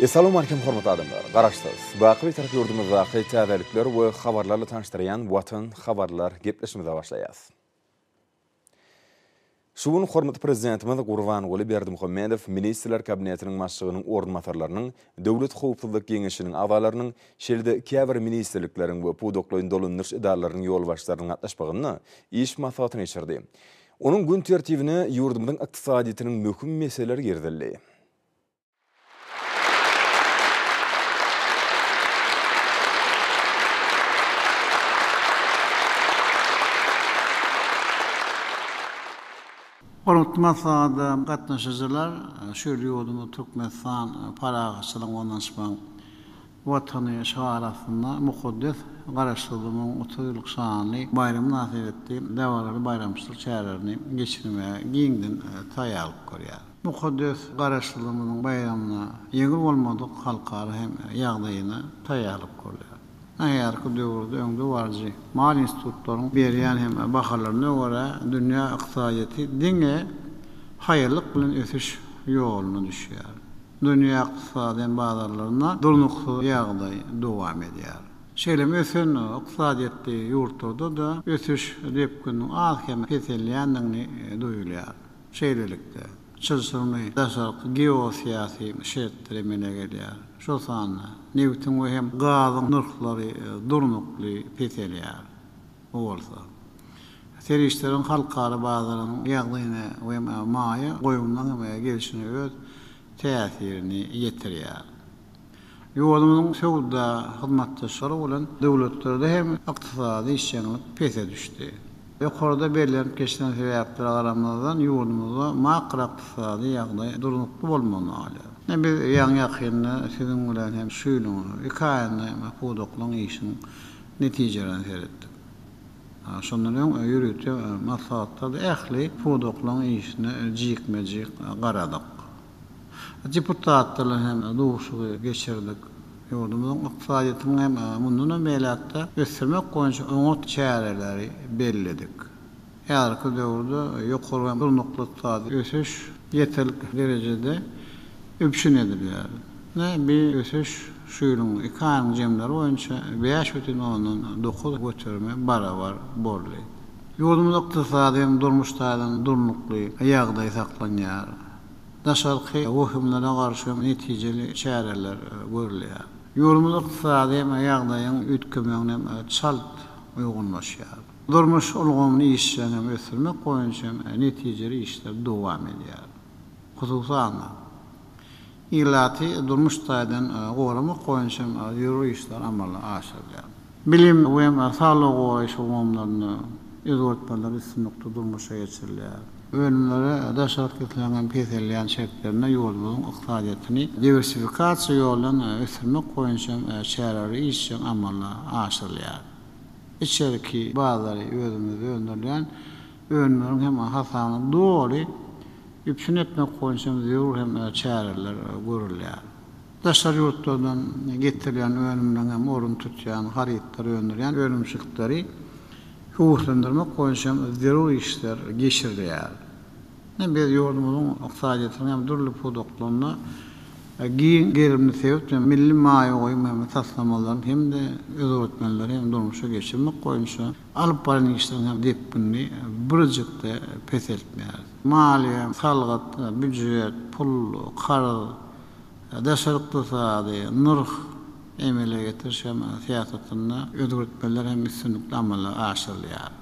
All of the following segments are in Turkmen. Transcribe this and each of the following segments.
Essalamu Aleýkum hormatly adamlar! Garaşsyz, Baky Bitarap ýurdumyzdaky täzelikler we habarlarla tanyşdyrýan Watan habarlar gepleşigimize başlaýas. Şu gün hormatly Prezidentimiz Gurbanguly Berdimuhamedow Ministrler Kabinetiniň Başlygynyň orunbasarlarynyň, Döwlet howpsuzlyk geňeşiniň agzalarynyň, şeýle-de käbir ministrlikleriň we pudaklaýyn dolandyryş edaralarynyň ýolbaşçylarynyň gatnaşmagynda iş maslahatyny geçirdi. Onuň gün tertibine ýurdumyzyň ykdysadyýetiniň möhüm meseleleri girizildi. Hormatly maslahata gatnaşyjylar, şeýle ýurdumyz Türkmenistan parahatçylygyň, ynanyşmagyň, Watany şygary astynda mukaddes Garaşsyzlygyň otuz ýyllyk şanly baýramy mynasybetli dabaraly baýramçylyk çärelerini geçirmäge giňden taýýarlyk görýär. Mukaddes Garaşsyzlygymyzyň baýramyna ýeňil bolmadyk halkara hem ýagdaýyna taýýarlyk görýär. Nähäzirki döwürde öňdebaryjy maýa institutlaryň berýän hem bahalaryna görä, dünýä ykdysadyýeti diňe haýallyk bilen ösüş ýoluna düşýär. Dünýä ykdysady bazarlarynda durnuksyz ýagdaý dowam edýär. Şeýle hem ösen ykdysadyýetli ýurtlarda-da ösüş depgininiň az-kem peselýändigini duýulýar. Şeýlelikde, çylşyrymly daşarky geosyýasy şertler emele gelýär. Şol sanda nebitiň we hem gazyň nyrhlary durnukly peselýär. Bu bolsa, serişdeleriň halkara bazaryň ýagdaýyna we maýa goýumlaryň gelşine öz täsirini ýetirýär. Ýurdumyzyň söwda hyzmatdaşlary bolan döwletlerde hem ykdysady işjeňlik pese düşdi. Ýokarda bellenip geçilen sebäplere garamazdan, ýurdumyzda makroykdysady ýagdaý durnukly bolmagyny alýar. Biz ýaňy-ýakynda siziň bilen hem şu ýylyň iki aýynda pudaklaryň işiniň netijeleriň seretdik. Şondan öň ýörite maslahatlarda ähli pudaklaryň işine jikme-jik garadyk. Deputatlar bilen hem duşuşygy geçirdik. Ýurdumyzyň ykdysadyýetini hem mundanam beýläk-de ösdürmek boýunça oňat çäreleri belledik. Häzirki döwürde ýokary hem durnukly ykdysady ösüş ýeterlik derejede üpjün edilýär. Bi ösüş şu ýylyň iki aýyň jemleri boýunça bäş bütin ondan dokuz göterime barabar boldy. Ýurdumyzda ykdysady hem durmuş taýdan durnukly ýagdaý saklanýar. Daşarky wehimlere garşy hem netijeli çäreler görülýär. Ýurdumyz ykdysady hem ýagdaýyň üýtgemegine hem çalt uýgunlaşýar. Durmuş ulgamyny işjeň hem ösdürmek boýunça hem netijeli işler dowam edýär. Hususan-da, ilaty durmuş taýdan goramak boýunça hem zerur işler amala aşyrylýar. Bilim we saglygy goraýyş ulgamlarynda özgertmeler üstünlikli durmuşa geçirilýär. Önümlere daş alyp gitmegiň peselýän şertlerinde ýurdumyzyň ykdysadyýetini diwersifikasiýa ýoly bilen ösdürmek boýunça hem çäreler işjeň amala aşyrylýar. içerki bazary özümizde öndürilýän önümleriň hem hasabyna doly üpjün etmek boýunça hem zerur hem çäreler görülýär. Daşary ýurtlardan getirilýän önümleriň hem ornuny tutýan harytlary öndürýän önümçilikleri höweslendirmek boýunça hem zerur işler geçirilýär. Ine, biz ýurdumyzyň ykdysadyýetiniň hem dürli pudaklarynda giň gerimli sebit we milli maýa goýum hem taslamalaryny hem-de özgertmeleri hem durmuşa geçirmek boýunça alyp baran işleriň hem depginini birjik-de peseltmeýäris. Maliýe, salgyt, býujet, pul, karz, daşary ykdysady, nyrh, emele getiriş hem syýasatynda özgertmeler hem üstünlikli amala aşyrylýar.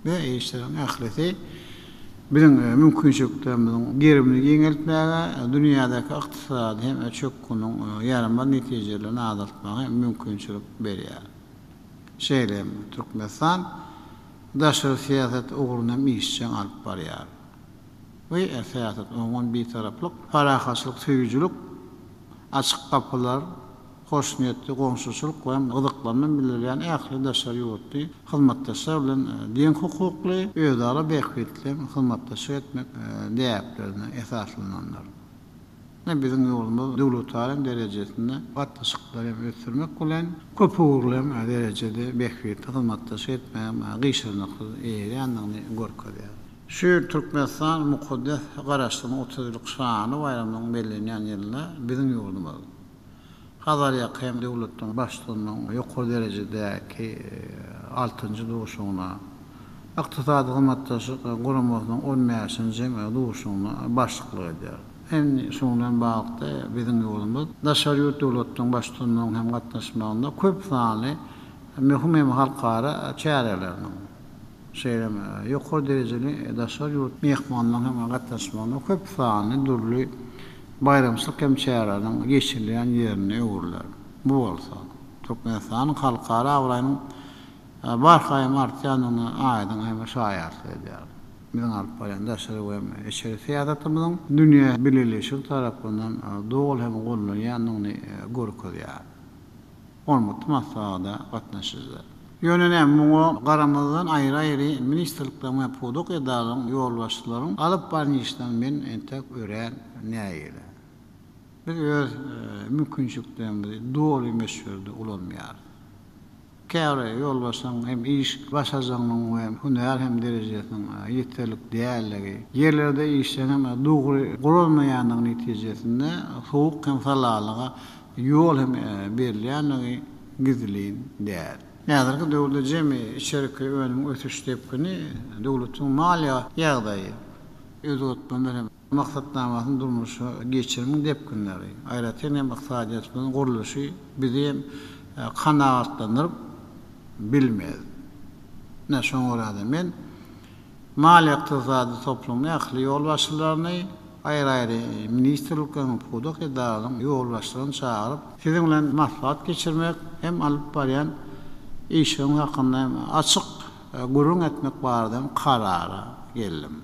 we işleriň ählisi biziň mümkinçiliklerimiziň gerimini giňeltmäge, dünýädäki ykdysady hem çökgüniň ýaramaz netijelerini azaltmaga hem mümkinçilik berýär. Şeýle hem Türkmenistan daşary syýasat ugruny hem işjeň alyp barýar. We syýasat umuman bitaraplyk, parahatçylyk söýüjilik, açyk gapylar, hoşniýetli goňşuçylyk bilen gyzyklanma bildirýän ähli daşary ýurtly hyzmatdaşlar bilen deň hukukly, özara bähbitleýin hyzmatdaşlyk etmek däplerine esaslanandyr. Ine, biziň ýurdumyz döwletara derejesinde gatnaşyklary hem ösdürmek bilen, köpugurly hem derejede bähbitli hyzmatdaşlyk etmäge gyşarnyksyz eýerýändigini görkezýär. Şu ýyl Türkmenistan mukaddes Garaşsyzlygyň otuz ýyllyk şanly baýramynyň bellenýän ýylynda biziň ýurdumyz, Hazarýaka hem döwletleň başlygynyň ýokary derejedäki altynjy duşuşygyna, Ykdysady Hyzmatdaşlyk Guramasynyň on bäşinji duşuşygyna başlyklyk edýär. Indi şunuň bilen baglylykda, biziň ýurdumyz daşary ýurt döwletleň başlygynyň hem gatnaşmagynda köp sanly möhüm hem halkara çäreleriniň, şeýle hem ýokary derejeli daşary ýurt myhmanlarynyň hem gatnaşmagynda köp sanly dürli baýramçylyk hem çäreleriniň geçirilýän ýerine öwrüler. Bu bolsa, Türkmenistanyň halkara abraýynyň barhaýam artýandygyna aýdyň hem şaýatlyk edýär. Biziň alyp barýan daşary we hem içeri syýasatymyzyň dünýä bileleşigi tarapyndan doly hem gollanýandygyny görkezýär. Ormutly maslahata gatnaşyjylar. Ýöne näme, muňa garamazdan aýry-aýry ministrlikleriň we pudak edaralaryň ýolbaşçylaryň alyp baran işlerini men entek örän nägile. Biz öz mümkinçiliklerimizi doly möçberde ulanmaýarys. Käbir ýolbaşçylaryň hem iş başarjagynyň we hünär hem derejesiniň ýeterlik däldigi, ýerlerde işleriň hem dogry guralmaýandygy netijesinde sowuk hem salalyga ýol hem berilýändigi gizlin däl. Häzirki döwürde jemi içerki önümiň ösüş depgini, döwletiň maliýe ýagdaýy, özgertmeler hem maksatnamasyny durmuşa geçirimiň depginleri, aýratyn hem ykdysadyýetimiziň gurluşy bizi hem kanagatlandyryp bilmez. Ine, şoňa görä-de men. Maliýe-ykdysady toplumyň ähli ýolbaşçylaryny, aýry-aýry ministrlikleriň, pudak edaralaryň ýolbaşçylaryny çagyryp, siziň bilen maslahat geçirmek hem alyp barýan işiňiz hakynda hem açyk gürrüň etmek barada hem karara geldim.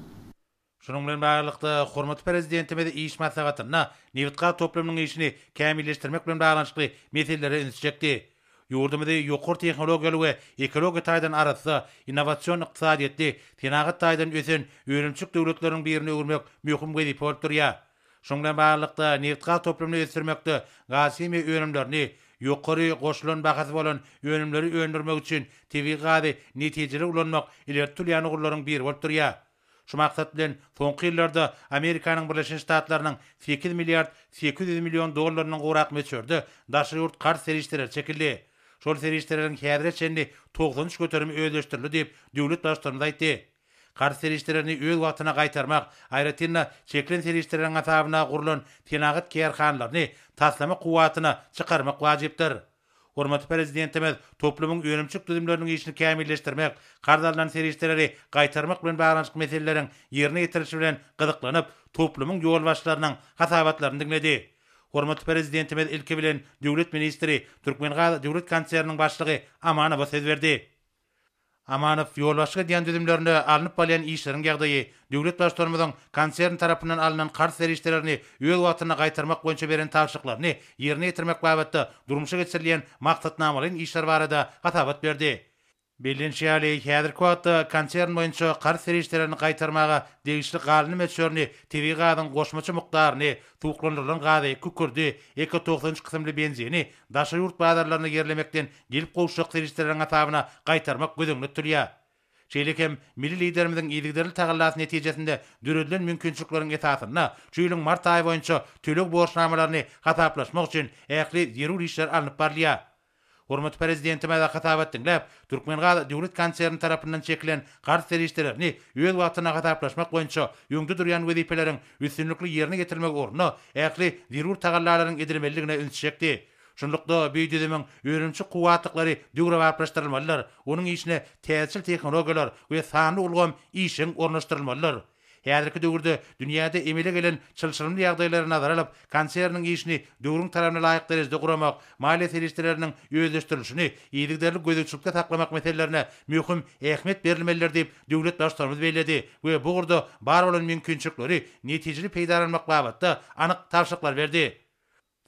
Şunuň bilen baglylykda, hormatly Prezidentimiz iş maslahatynda nebitgaz toplumynyň işini kämilleşdirmek bilen baglanyşykly meselelere üns çekdi. Ýurdumyzy ýokary tehnologiýaly we ekologiýa taýdan arassa, innowasion ykdysadyýetli, senagat taýdan ösen önümçilik döwletleriniň birine öwürmek möhüm wezipe bolup durýar. Şunuň bilen baglylykda, nebitgaz toplumyny ösdürmekde gazhimiýa önümlerini, ýokary goşulan bahasy bolan önümleri öndürmek üçin tebigy gazy netijeli ulanmak ileri tutulýan ugurlaryň biri bolup durýar. Şu maksat bilen, soňky ýyllarda Amerikanyň Birleşen Ştatlarynyň sekiz milliard sekiz ýüz million dollarynyň gowrak möçberde daşary ýurt karz serişdeleri çekildi. Şol serişdeleriň häzire çenli togsan üç göterimi özleşdirildi diýip, döwlet Baştutanymyz aýtdy. Karz serişdelerini öz wagtyna gaýtarmak, aýratyn-da, çekilen serişdeleriň hasabyna gurlan senagat kärhanalaryny taslama kuwwatyna çykarmak wajypdyr. Hormatly Prezidentimiz toplumyň önümçilik düzümleriniň işini kämilleşdirmek, karz alnan serişdeleri gaýtarmak bilen baglanyşykly meseleleriň ýerine ýetirilişi bilen gyzyklanyp, toplumyň ýolbaşçylarynyň hasabatlaryny diňledi. Hormatly Prezidentimiz ilki bilen döwlet ministri, Türkmengaz döwlet konserniniň başlygy Amanowa söz berdi. Amanow, Ýolbaşçyk edýän düzümlerinde alnyp barylýan işleriň ýagdaýy, döwlet Baştutanymyzyň konsern tarapyndan alnan karz serişdelerini öz wagtynda gaýtarmak boýunça beren tabşyryklaryny ýerine ýetirmek babatda durmuşa geçirilýän maksatnamalaýyn işler barada hasabat berdi. Bellenişi ýaly, häzirki wagtda konsern boýunça karz serişdelerini gaýtarmaga degişli galyndy möçberini, tebigy gazyň goşmaça mukdaryny, suwuklandyrylan gazy, kükürdi, eko togsan üç kysymly benzini daşary ýurt bazarlaryna ýerlemekden gelip gowuşjak serişdeleriň hasabyna gaýtarmak göz öňünde tutulýar. Şeýle hem milli Liderimiziň yzygiderli tagallasy netijesinde döredilen mümkinçilikleriň esasynda şu ýylyň mart aýy boýunça töleg borçnamalaryny hasaplaşmak üçin ähli zerur işler alnyp barylýar. Hormatly Prezidentimize hasabat diňläp, Türkmengaz döwlet konserni tarapyndan çekilen karz serişdelerini öz wagtynda hasaplaşmak boýunça öňde durýan wezipeleriň üstünlikli ýerine ýetirilmegi ugrunda ähli zerur tagallalaryň edilmelidigine ünsi çekdi. Şunlukda, bu düzümiň önümçi kuwwatlyklary döwrebaplaşdyrylmalydyr, onuň işine täzeçil tehnologiýalar we sanly ulgam işjeň ornaşdyrylmalydyr. Häzirki döwürde dünýäde emele gelen çylşyrymly ýagdaýlary nazara alyp, konserniň işini döwrüň talabyna laýyk derejede guramak, maliýe serişdeleriniň özleşdirilişini yzygiderli gözegçilikde saklamak meselelerine möhüm ähmiýet berilmelidir diýip, döwlet Baştutanymyz belledi we bu ugurda bar bolan mümkinçilikleri netijeli peýdalanmak babatda anyk tabşyryklar berdi.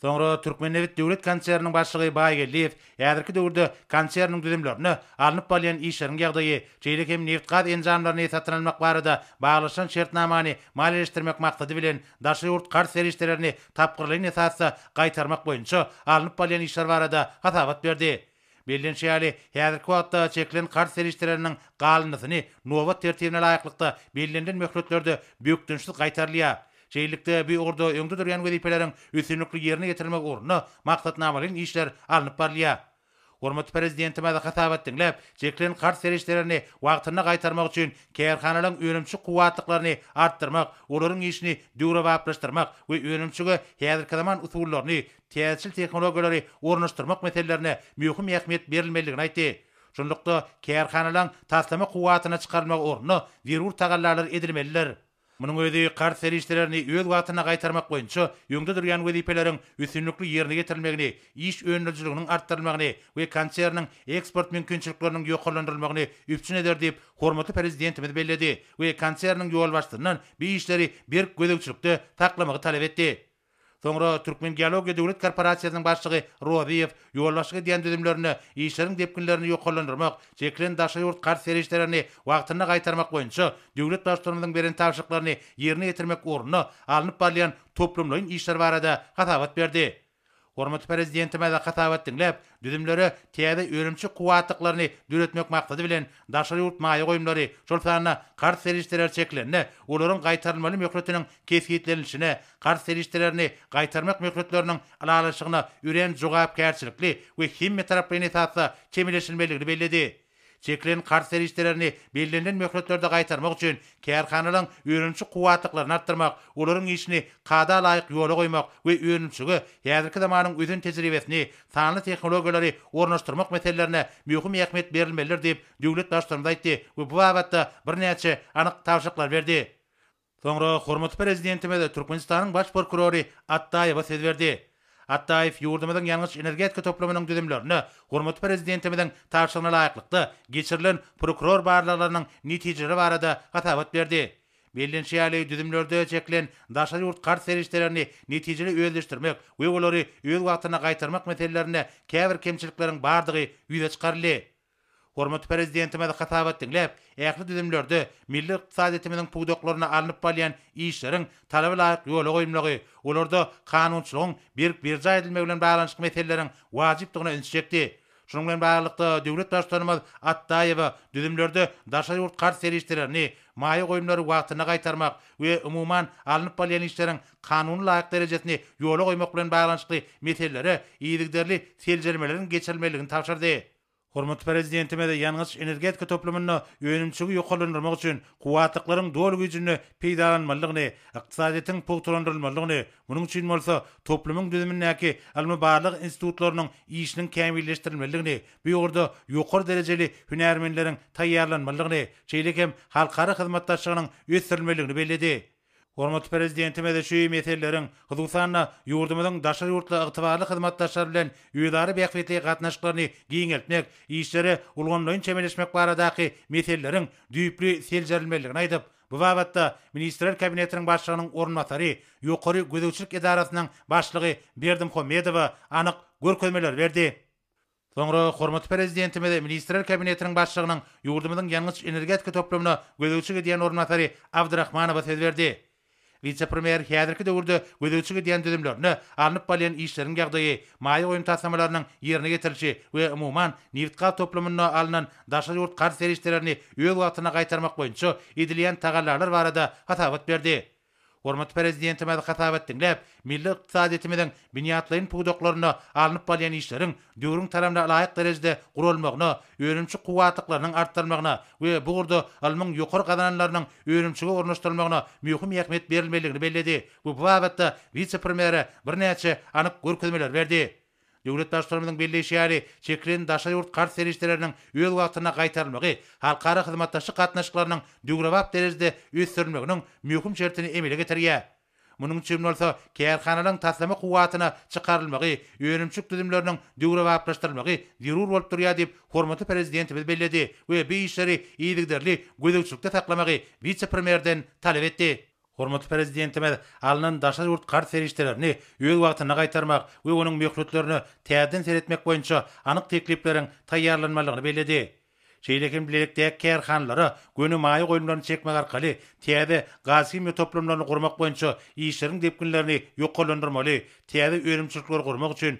Soňra Türkmennebit döwlet konserniniň başlygy Baýgeldiýew häzirki döwürde konserniň düzümlerinde alnyp barylýan işleriň ýagdaýy, şeýle hem nebit-gaz enjamlaryny satyn almak barada baglaşylan şertnamany maliýeleşdirmek maksady bilen daşary ýurt karz serişdelerini tapgyrlaýyn esasda gaýtarmak boýunça alnyp barylýan işler barada hasabat berdi. Bellenişi ýaly, häzirki wagtda çekilen karz serişdeleriniň galyndysyny nobat tertibine laýyklykda bellenilen möhletlerde bökdençsiz gaýtarylýar. Şeýlelikde, bu ugurda öňde durýan wezipeleriň üstünlikli ýerine ýetirilmegi ugrunda maksatnamalaýyn işler alnyp barylýar. Hormatly Prezidentimiz hasabat diňläp, çekilen karz serişdelerini wagtynda gaýtarmak üçin kärhanalaryň önümçi kuwwatlyklaryny artdyrmak, olaryň işini döwrebaplaşdyrmak we önümçige häzirki zaman usullaryny, täzeçil tehnologiýalary ornaşdyrmak meselelerine möhüm ähmiýet berilmelidigini aýtdy. Şunlukda, kärhanalaryň taslama kuwwatyna çykarylmagy ugrunda zerur tagallalar edilmelidir. Munuň özi karz serişdelerini öz wagtynda gaýtarmak boýunça öňde durýan wezipeleriň üstünlikli ýerine ýetirilmegini, iş önerijiliginiň artdyrylmagyny we konserniň eksport mümkinçilikleriniň ýokarlandyrylmagyny üpjün eder diýip, hormatly Prezidentimiz belledi we konserniň ýolbaşçysyndan bu işleri berk gözegçilikde saklamagy talap etdi. Soňra Türkmengeologiýa döwlet korporasiýasynyň başlygy Rozyýew ýolbaşçylyk edýän düzümlerinde işleriň depginlerini ýokarlandyrmak, çekilen daşary ýurt karz serişdelerini wagtynda gaýtarmak boýunça döwlet Baştutanymyzyň beren tabşyryklaryny ýerine ýetirmek ugrunda alnyp barylýan toplumlaýyn işler barada hasabat berdi. Hormatly Prezidentimiz hasabat diňläp, Düzümlere täze önümçi kuwwatlyklaryny döretmek maksady bilen, daşary ýurt maýa goýumlary, şol sanda karz serişdeleri çekilende, olaryň gaýtarylmaly möhletiniň kesgitlenilişine, karz serişdelerini gaýtarmak möhletleriniň ylalaşygyna örän jogapkärçilikli we hemmetaraplaýyn esasda çemeleşilmelidigini belledi. Çekilen karz serişdelerini bellenilen möhletlerde gaýtarmak üçin kärhanalaryň önümçi kuwwatlyklaryny artdyrmak, olaryň işini kada laýyk ýola goýmak we önümçilige häzirki zamanyň ösen tejribesini, sanly tehnologiýalary ornaşdyrmak meselelerine möhüm ähmiýet berilmelidir diýip, döwlet Baştutanymyz aýtdy we bu babatda birnäçe anyk tabşyryklar berdi. Soňra hormatly Prezidentimiz Türkmenistanyň Baş prokurory Atdaýewa söz berdi. Atdaýew ýurdumyzyň ýangyç-energetika toplumynyň düzümlerine hormatly Prezidentimiziň tabşyrygyna laýyklykda geçirilen prokuror barlaglarynyň netijeleri barada hasabat berdi. Bellenişi ýaly, düzümlerde çekilen daşary ýurt karz serişdelerini netijeli özleşdirmek we olary öz wagtynda gaýtarmak meselelerinde käbir kemçilikleriň bardygy ýüze çykaryldy. Hormatly Prezidentimiz hasabat diňläp, ähli düzümlerde milli ykdysadyýetimiziň pudaklarynda alnyp barylýan işleriň talaba laýyk ýola goýulmagy, olarda kanunçylygyň berk berjaý edilmegi bilen baglanyşykly meseleleriň wajypdygyna ünsi çekdi. Şunuň bilen baglylykda, döwlet Baştutanymyz Atdaýewa düzümlerde daşary ýurt karz serişdelerini, maýa goýumlary wagtynda gaýtarmak we umuman, alnyp barylýan işleriň kanuna laýyk derejesini ýola goýmak bilen baglanyşykly meselelere yzygiderli seljermeleriň geçirilmelidigini tabşyrdy. Hormatly Prezidentimiz ýangyç-energetika toplumynda önümçiligi ýokarlandyrmak üçin kuwwatlyklaryň doly güýjünde peýdalanylmalydygyny, ykdysadyýetiň pugtalandyrylmalydygyny, munuň üçin bolsa toplumyň düzümindäki ylmy-barlag institutlarynyň işiniň kämilleşdirilmelidigini, bu ugurda ýokary derejeli hünärmenleriň taýýarlanmalydygyny, şeýle hem halkara hyzmatdaşlygynyň ösdürilmelidigini belledi. Hormatly Prezidentimiz şu meseleleriň, hususan-da, ýurdumyzyň daşary ýurtly ygtybarly hyzmatdaşlar bilen özara bähbitli gatnaşyklaryny giňeltmek, işlere ulgamlaýyn çemeleşmek baradaky meseleleriň düýpli seljerilmelidigini aýdyp, bu babatda Ministrler Kabinetiniň Başlygynyň orunbasary, Ýokary gözegçilik edarasynyň başlygy Berdimuhamedowa anyk görkezmeleri berdi. Soňra hormatly Prezidentimiz Ministrler Kabinetiniň Başlygynyň ýurdumyzyň ýangyç-energetika toplumyna gözegçilik edýän orunbasary Abdrahmanowa söz berdi. Wise-premýer häzirki döwürde gözegçilik edýän düzümlerine, alnyp barylýan işleriň ýagdaýy, maýa goýum taslamalarynyň ýerine getirilişi we umuman, nebit-gaz toplumynda alnan daşary ýurt karz serişdelerini öz wagtynda gaýtarmak boýunça edilýän tagallalar barada hasabat berdi. Hormatly Prezidentimiz hasap etdiňläp, milli ykdysadyýetimiziň binýatlaýyn pudaklarynda alnyp barylýan işleriň döwrüň talabna laýyk derejede guralmagyna, önümçi kuwwatlyklarynyň artdyrylmagyna we bu ugurda ylmyň ýokary gazananlarynyň önümçige ornaşdyrylmagyna möhüm ähmiýet berilmelidigini belledi we bu babatda wise-premýere birnäçe anyk görkezmeleri berdi. Döwlet Baştutanymyzyň belleýşi ýaly, çekilen daşary ýurt karz serişdeleriniň öz wagtynda gaýtarylmagy halkara hyzmatdaşlyk gatnaşyklarynyň döwrebap derejede ösdürilmeginiň möhüm şertini emele getirýär. Munuň üçin bolsa kärhanalaryň taslama kuwwatyna çykarylmagy, önümçilik düzümleriniň döwrebaplaşdyrylmagy zerur bolup durýar diýip, hormatly Prezidentimiz belledi we bu işleri yzygiderli gözegçilikde saklamagy wise-premýerden talap etdi. Hormatly Prezidentimiz alnan daşary ýurt karz serişdelerini öz wagtynda gaýtarmak we onuň möhletlerine täzeden seretmek boýunça anyk teklipleriň taýýarlanmalydygyny belledi. Şeýle hem bilelikdäki kärhanalara göni maýa goýumlaryny çekmek arkaly täze gazhimiýa toplumlaryny gurmak boýunça işleriň depginlerini ýokarlandyrmaly, täze önümçilikleri gurmak üçin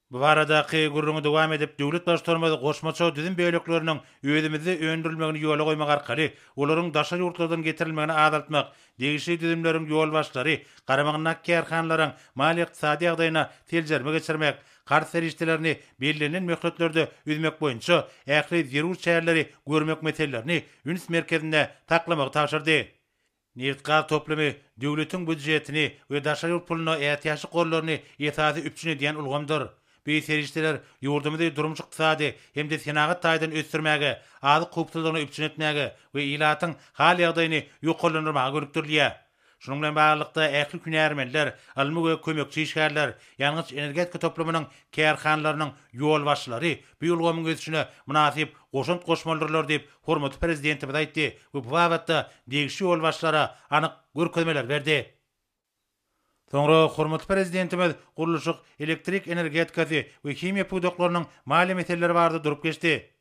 Bu baradaky gürrüňi dowam edip, döwlet Baştutanymyz goşmaça düzüm bölekleriniň özümizde öndürilmegini ýola goýmak arkaly, olaryň daşary ýurtlardan getirilmegini azaltmak, degişli düzümleriň ýolbaşçylary garamagyndaky kärhanalaryň maliýe-ykdysady ýagdaýyna seljerme geçirmek, karz serişdelerini bellenilen möhletlerde üzmek boýunça ähli zerur çäreleri görmek meselelerini üns merkezinde saklamagy tabşyrdy. Nebit-gaz toplumy döwletiň býudjetini we daşary ýurt puluna ätiýaçlyk gorlaryny esasy üpjün edýän ulgamdyr. Bu serişdeler ýurdumyzy durmuş-ykdysady hem-de senagat taýdan ösdürmäge, azyk howpsuzlygyny üpjün etmäge we ilatyň hal-ýagdaýyny ýokarlandyrmaga gönükdirilýär. Şunuň bilen baglylykda, ähli hünärmenler, ylmy we kömekçi işgärler, ýangyç-energetika toplumynyň kärhanalarynyň ýolbaşçylary bu ulgamyň ösüşine mynasyp goşant goşmalydyrlar diýip, hormatly Prezidentimiz aýtdy we bu babatda degişli ýolbaşçylara anyk görkezmeler berdi. Soňra hormatly Prezidentimiz gurluşyk, elektrik energetikasy we himiýa pudaklarynyň maliýe meseleleri barada durup geçdi.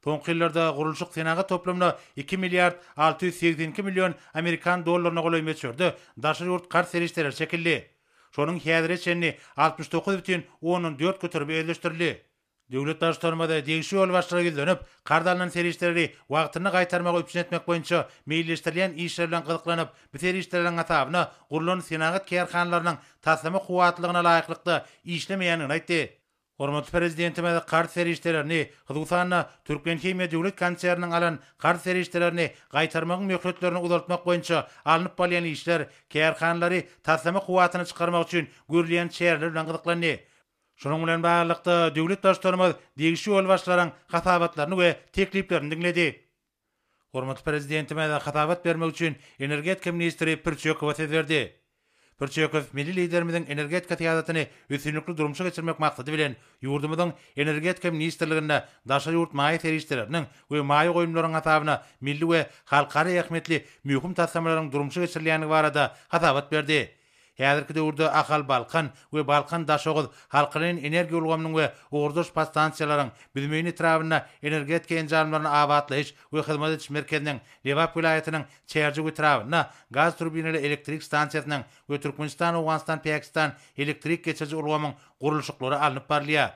Soňky ýyllarda gurluşyk senagat toplumyna iki milliard alty ýüz segsen iki million amerikan dollaryna golaý möçberde daşary ýurt karz serişdeleri çekildi. Şonuň häzire çenli altmyş dokuz bütin ondan dört göterimi özleşdirildi. Döwlet Baştutanymyz degişli ýolbaşçylara ýüzlenip, karz alnan serişdeleri wagtynda gaýtarmagy üpjün etmek boýunça meýilleşdirilýän işler bilen gyzyklanyp, bu serişdeleriň hasabyna gurlan senagat kärhanalarynyň taslama kuwwatlylygyna laýyklykda işlemeýändigini aýtdy. Hormatly Prezidentimiz karz serişdelerini, hususan-da, Türkmenhimiýa döwlet konserniniň alan karz serişdelerini gaýtarmagyň möhletlerini uzaltmak boýunça alnyp barylýan işler, kärhanalary taslama kuwwatyna çykarmak üçin görülýän çäreler bilen gyzyklandy. Şunuň bilen baglylykda, döwlet Baştutanymyz degişli ýolbaşçylaryň hasabatlaryny we tekliplerini diňledi. Hormatly Prezidentimiz hasabat bermek üçin energetika ministri Pürçekowa söz berdi. Pürçekow milli Liderimiziň energetika syýasatyny üstünlikli durmuşa geçirmek maksady bilen, ýurdumyzyň Energetika ministrliginde daşary ýurt maýa serişdeleriniň we maýa goýumlaryň hasabyna milli we halkara ähmiýetli möhüm taslamalaryň durmuşa geçirilýändigi barada hasabat berdi Häzirki döwürde Ahal-Balkan we Balkan-Daşoguz halkaleýin energiýa ulgamynyň we ugurdaş podstansiýalaryň, Büzmeýin etrabynda Energetika enjamlaryny abatlaýyş we hyzmat ediş merkeziniň, Lebap welaýatynyň Çärjew etrabynda gaz turbinaly elektrik stansiýasynyň we Türkmenistan-Owganystan-Pakistan elektrik geçiriji ulgamyň gurluşyklary alnyp barylýar.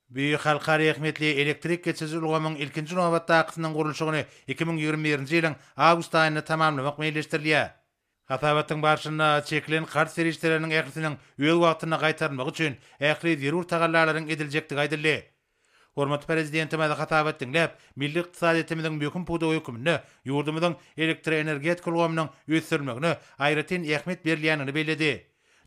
Bu halkara ähmiýetli elektrik geçiriji ulgamyň ilkinji nobatdakysynyň gurluşygyny iki müň ýigrimi birinji ýylyň awgust aýynda tamamlamak meýilleşdirilýär. Hasabatyň barşynda çekilen karz serişdeleriniň ählisiniň öz wagtynda gaýtarylmagy üçin ähli zerur tagallalaryň ediljekdigi aýdyldy. Hormatly Prezidentimiz hasabat diňläp, milli ykdysadyýetimiziň möhüm pudagy hökmünde ýurdumyzyň elektroenergetika ulgamynyň ösdürilmegine aýratyn ähmiýet berilýändigini belledi.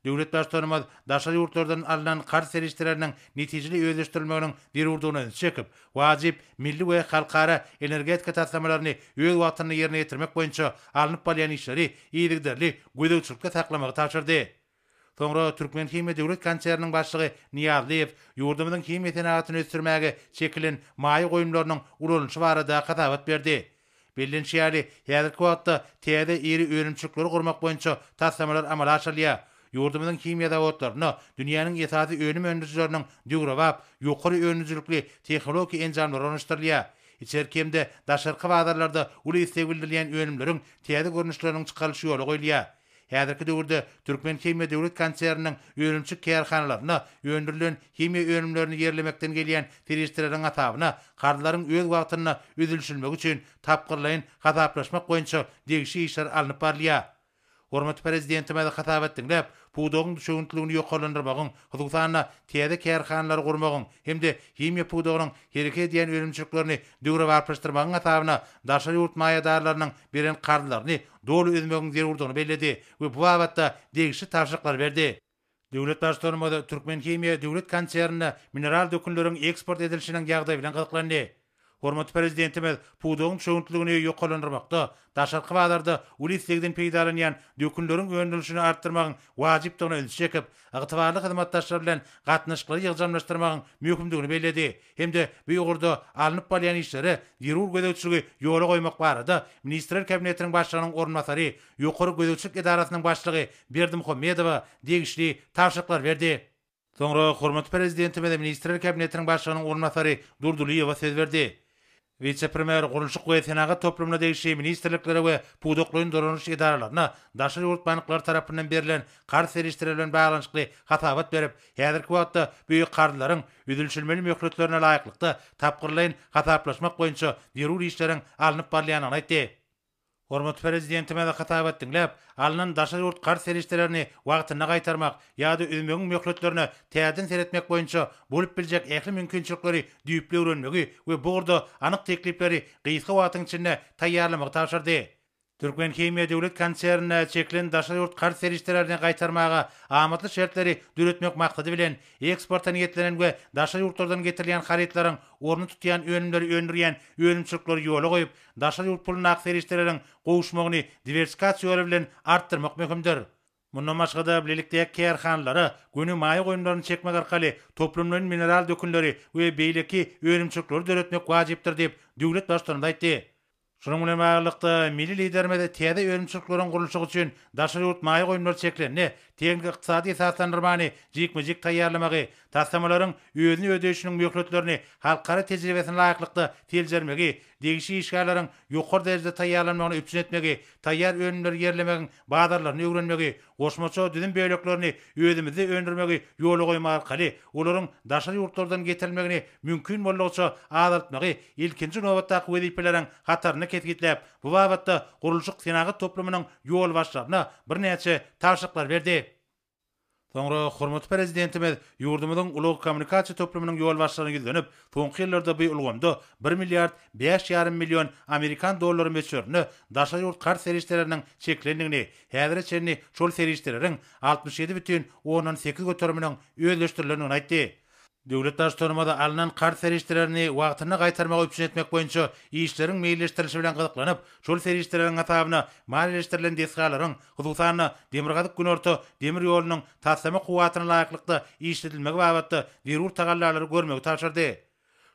Döwlet Baştutanymyz daşary ýurtlardan alnan karz serişdeleriniň netijeli özleşdirilmeginiň zerurdygyna ünsi çekip, wajyp milli we halkara energetika taslamalaryny öz wagtynda ýerine ýetirmek boýunça alnyp barylýan işleri yzygiderli gözegçilikde saklamagy tabşyrdy. Soňra Türkmenhimiýa döwlet konserniniň başlygy Nyýazlyýew ýurdumyzyň himiýa senagatyny ösdürmäge çekilen maýa goýumlarynyň ulanylyşy barada hasabat berdi. Bellenişi ýaly, häzirki wagtda täze iri önümçilikleri gurmak boýunça taslamalar amala aşyrylýar. Ýurdumyzyň himiýa zawodlarynda dünýäniň esasy önüm öndürijileriniň döwrebap, ýokary önümcilikli tehnologik enjamlary ornaşdyrylýar. Içerki hem-de daşarky bazarlarda uly isleg bildirilýän önümleriň täze görnüşleriniň çykarylyş ýola goýulýar. Häzirki döwürde Türkmenhimiýa döwlet konserniniň önümçi kärhanalarynda öndürilen himiýa önümlerini ýerlemekden gelýän serişdeleriň hasabyna karzlaryň öz wagtynda üzülişilmegi üçin tapgyrlaýyn hasaplaşmak boýunça degişi işler alnyp barylýar. Hormatly Prezidentimiz hasabat diňläp, pudagyň düşewüntligini ýokarlandyrmagyň, hususan-da, täze kärhanalary gurmagyň hem-de himiýa pudagynyň hereket edýän önümçiliklerini döwrebaplaşdyrmagyň hasabyna daşary ýurt maýadarlarynyň beren karzlaryny doly üzmegiň zerurdygyny belledi we bu babatda degişli tabşyryklary berdi. Döwlet Baştutanymyz Türkmenhimiýa döwlet konsernine mineral dökünleriň eksport edilişiniň ýagdaýy bilen gyzyklandy. Hormatly Prezidentimiz pudagyň çöwüntligini ýokarlandyrmakda, daşarky bazarda uly islegden peýdalanýan dökünleriň öndürilişini artdyrmagyň wajypdygyna ünsi çekip, ygtybarly hyzmatdaşlar bilen gatnaşyklary ýygjamlaşdyrmagyň möhümdigini belledi hem-de bu ugurda alnyp barylýan işlere zerur gözegçiligi ýola goýmak barada Ministrler Kabinetiniň Başlygynyň orunbasary, Ýokary gözegçilik edarasynyň başlygy Berdimuhamedowa degişli tabşyryklary berdi. Soňra hormatly Prezidentimiz Ministrler Kabinetiniň Başlygynyň orunbasary Durdylyýewa söz berdi. Wise-premýer gurluşyk we senagat toplumyna degişli ministrliklere we pudaklaýyn dolanyş edaralaryna daşary ýurt banklary tarapyndan berlen karz serişdeleri bilen baglanyşykly hasabat berip, häzirki wagtda bu karzlaryň üzülişilmeli möhletlerine laýyklykda tapgyrlaýyn hasaplaşmak boýunça zerur işleriň alnyp barylýandygyny aýtdy. Hormatly Prezidentimize hasabat diňläp, alnan daşary ýurt karz serişdelerini wagtynda gaýtarmak ýa-da üzmegiň möhletlerine täzeden seretmek boýunça bolup biljek ähli mümkinçilikleri düýpli öwrenmegi we bu ugurda anyk teklipleri gysga wagtyň içinde taýýarlamagy tabşyrdy. Türkmenhimiýa döwlet konsernine çekilen daşary ýurt karz serişdelerini gaýtarmaga amatly şertleri döretmek maksady bilen, eksporta niýetlenen we daşary ýurtlardan getirilýän harytlaryň ornuny tutýan önümleri öndürýän önümçilikleri ýola goýup, Daşary ýurt pulundaky serişdeleriň gowuşmagyny diwersikasiýa ýoly bilen artdyrmak möhümdir. Mundan başga-da, bilelikdäki kärhanalara göni maýa goýumlaryny çekmek arkaly toplumlaýyn mineral dökünleri we beýleki önümçilikleri döretmek wajypdyr diýip, döwlet Baştutanymyz aýtdy. Şunuň bilen baglylykda, milli Liderimiz täze önümçilikleriň gurluşygy üçin daşary ýurt maýa goýumlary çekilende, tehniki-ykdysady esaslandyrmany jikme-jik taýýarlamagy, taslamalaryň özüni ödeýşiniň möhletlerini halkara tejribesine laýyklykda seljermegi degişli işgärleriň ýokary derejede taýýarlanmagyny üpjün etmegi, taýýar önümleri ýerlemegiň bazarlaryny öwrenmegi, goşmaça düzüm böleklerini özümizde öndürmegi ýola goýmak arkaly olaryň daşary ýurtlardan getirilmegini mümkin boldugyça azaltmagy ilkinji nobatdaky wezipeleriň hatarynda kesgitläp, bu babatda gurluşyk-senagat toplumynyň ýolbaşçylaryna birnäçe tabşyryklar berdi. Soňra hormatly Prezidentimiz ýurdumyzyň ulag kommunikasiýa toplumynyň ýolbaşçylaryna ýüzlenip, soňky ýyllarda bu ulgamda bir milliard bäş ýarym million amerikan dollary möçberinde daşary ýurt karz serişdeleriniň çekilendigini, häzire çenli şol serişdeleriň altmyş ýedi bütin ondan sekiz göteriminiň özleşdirilendigini aýtdy. Döwlet Baştutanymyz alnan karz serişdelerini wagtynda gaýtarmagy üpjün etmek boýunça işleriň meýilleşdirilişi bilen gyzyklanyp, şol serişdeleriň hasabyna maliýeleşdirilen desgalaryň, hususan-da, Demirgazyk-Günorta demir ýolunyň taslama kuwwatyna laýyklykda işledilmegi babatda zerur tagallalary görmegi tabşyrdy.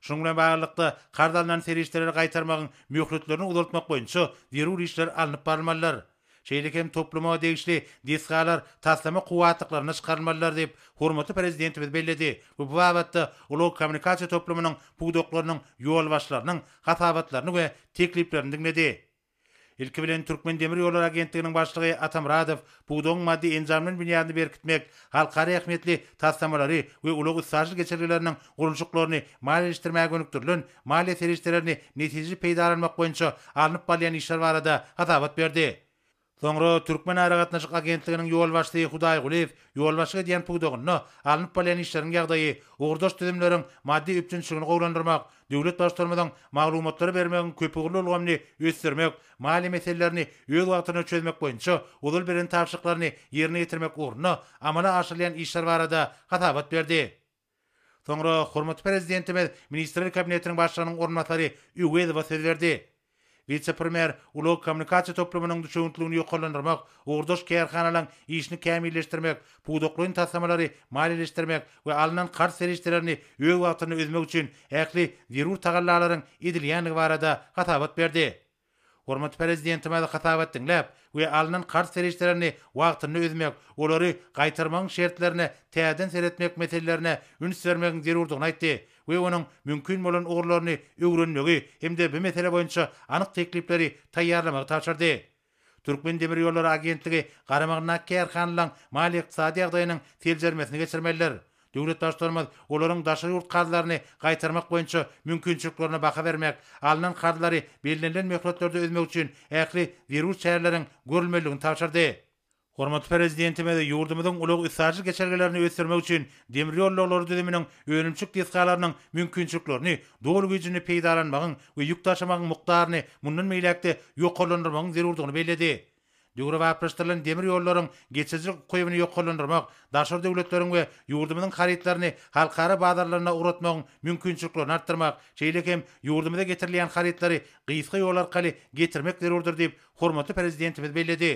Şunuň bilen baglylykda, karz alnan serişdeleri gaýtarmagyň möhletlerini uzaltmak boýunça zerur işler alnyp barylmalydyr. Şeýle hem topluma degişli desgalar taslama kuwwatlyklarynda çykarylmalydyr diýip, hormatly Prezidentimiz belledi we bu babatda ulag kommunikasiýa toplumynyň pudaklarynyň ýolbaşçylarynyň hasabatlaryny we tekliplerini diňledi. Ilki bilen, Türkmendemirýollary agentliginiň başlygy Atamyradow pudagyň maddy-enjam bilen binýadyny berkitmek, halkara ähmiýetli taslamalary we ulag-üstaşyr geçelgeleriniň gurluşyklaryny maliýeleşdirmäge gönükdirilen maliýe serişdelerini netijeli peýdalanmak boýunça alnyp barylýan işler barada hasabat berdi. Soňra Türkmenaragatnaşyk agentliginiň ýolbaşçysy Hudaý Gulyýew ýolbaşçylyk edýän pudagynda alnyp barylýan işleriň ýagdaýy, ugurdaş düzümleriň maddy üpjünçiligini gowulandyrmak, döwlet Baştutanymyzyň maglumatlary bermegiň köpugurly ulgamyny ösdürmek, maliýe meselelerini öz wagtynda çözmek boýunça ozal beren tabşyryklaryny ýerine ýetirmek ugrunda amala aşyrylýan işler barada hasabat berdi. Soňra hormatly Prezidentimiz Ministrler Kabinetiniň Başlygynyň orunbasary Öwezowa söz berdi. Wise-premýer ulag-kommunikasiýa toplumynyň düşewüntligini ýokarlandyrmak, ugurdaş kärhanalaryň işini kämilleşdirmek, pudaklaýyn taslamalary maliýeleşdirmek we alnan karz serişdelerini öz wagtynda üzmek üçin ähli zerur tagallalaryň edilýändigi barada hasabat berdi. Hormatly Prezidentimiz hasabat diňläp we alnan karz serişdelerini wagtynda ödemek, olary gaýtarmagyň şertlerine täzeden seretmek meselelerine üns bermegiň zerurdygyny aýtdy we onuň mümkin bolan ugurlaryny öwrenmegi hem-de bu mesele boýunça anyk teklipleri taýýarlamagy tabşyrdy. Türkmendemirýollary agentligi garamagyndaky kärhanalaryň maliýe-ykdysady ýagdaýynyň seljermesini geçirmelidir. Döwlet Baştutanymyz olaryň daşary ýurt karzlaryny gaýtarmak boýunça mümkinçiliklerine baha bermek, alnan karzlary bellenilen möhletlerde özmek üçin ähli zerur çäreleriň görülmelidigini tabşyrdy. Hormatly Prezidentimiz ýurdumyzyň ulag-üstaşyr geçelgelerini ösdürmek üçin demir ýollaglary düzüminiň önümçilik desgalarynyň mümkinçiliklerini doly güýjünde peýdalanmagyň we ýük daşamagyň mukdaryny mundan beýläk-de ýokarlandyrmagyň zerurdygyny belledi. Döwrebaplaşdyrylan demir ýollaryň geçirijilik ukybyny ýokarlandyrmak, daşary döwletleriň we ýurdumyzyň harytlaryny halkara bazarlaryna ugratmagyň mümkinçiliklerini artdyrmak, şeýle hem ýurdumyza getirilýän harytlary gysga ýol arkaly getirmek zerurdyr diýip, hormatly Prezidentimiz belledi.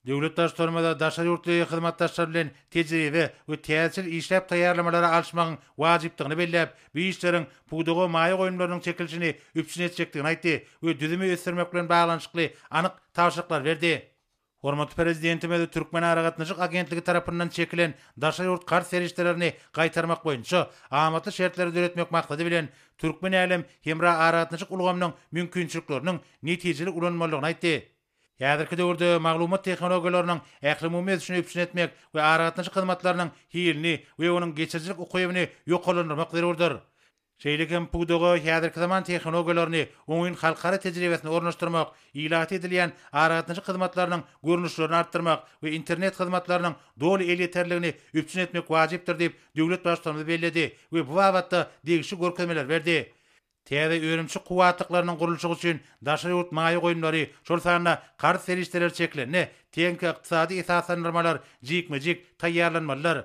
Döwlet Baştutanymyza daşary ýurtly hyzmatdaşlar bilen tejribe we täzeçil işläp taýýarlamalary alyşmagyň wajypdygyny belläp, bu işleriň pudaga maýa goýumlarynyň çekilişini üpjün etjekdigini aýtdy we düzümi ösdürmek bilen baglanyşykly anyk tabşyryklar berdi. Hormatly Prezidentimiz Türkmenaragatnaşyk agentligi tarapyndan çekilen daşary ýurt karz serişdelerini gaýtarmak boýunça amatly şertleri döretmek maksady bilen, türkmen-älem hemra aragatnaşyk ulgamynyň mümkinçilikleriniň netijeli ulanylmalydygyny aýtdy. Häzirki döwürde maglumat tehnologiýalarynyň ählumumy ösüşini üpjün etmek we aragatnaşyk hyzmatlarynyň hilini we onuň geçirijilik ukybyny ýokarlandyrmak zerurdyr. Şeýle hem pudaga häzirki zaman tehnologiýalaryny, oňyn halkara tejribesini ornaşdyrmak, ilata edilýän aragatnaşyk hyzmatlarynyň görnüşlerini artdyrmak we internet hyzmatlarynyň doly elýeterligini üpjün etmek wajypdyr diýip, döwlet Baştutanymyz belledi we bu babatda degişli görkezmeler berdi. Täze önümçi kuwwatlyklarynyň gurluşygy üçin daşary ýurt maýa goýumlary, şol sanda karz serişdeleri çekilende, tehniki-ykdysady esaslandyrmalar jikme-jik taýýarlanmalydyr.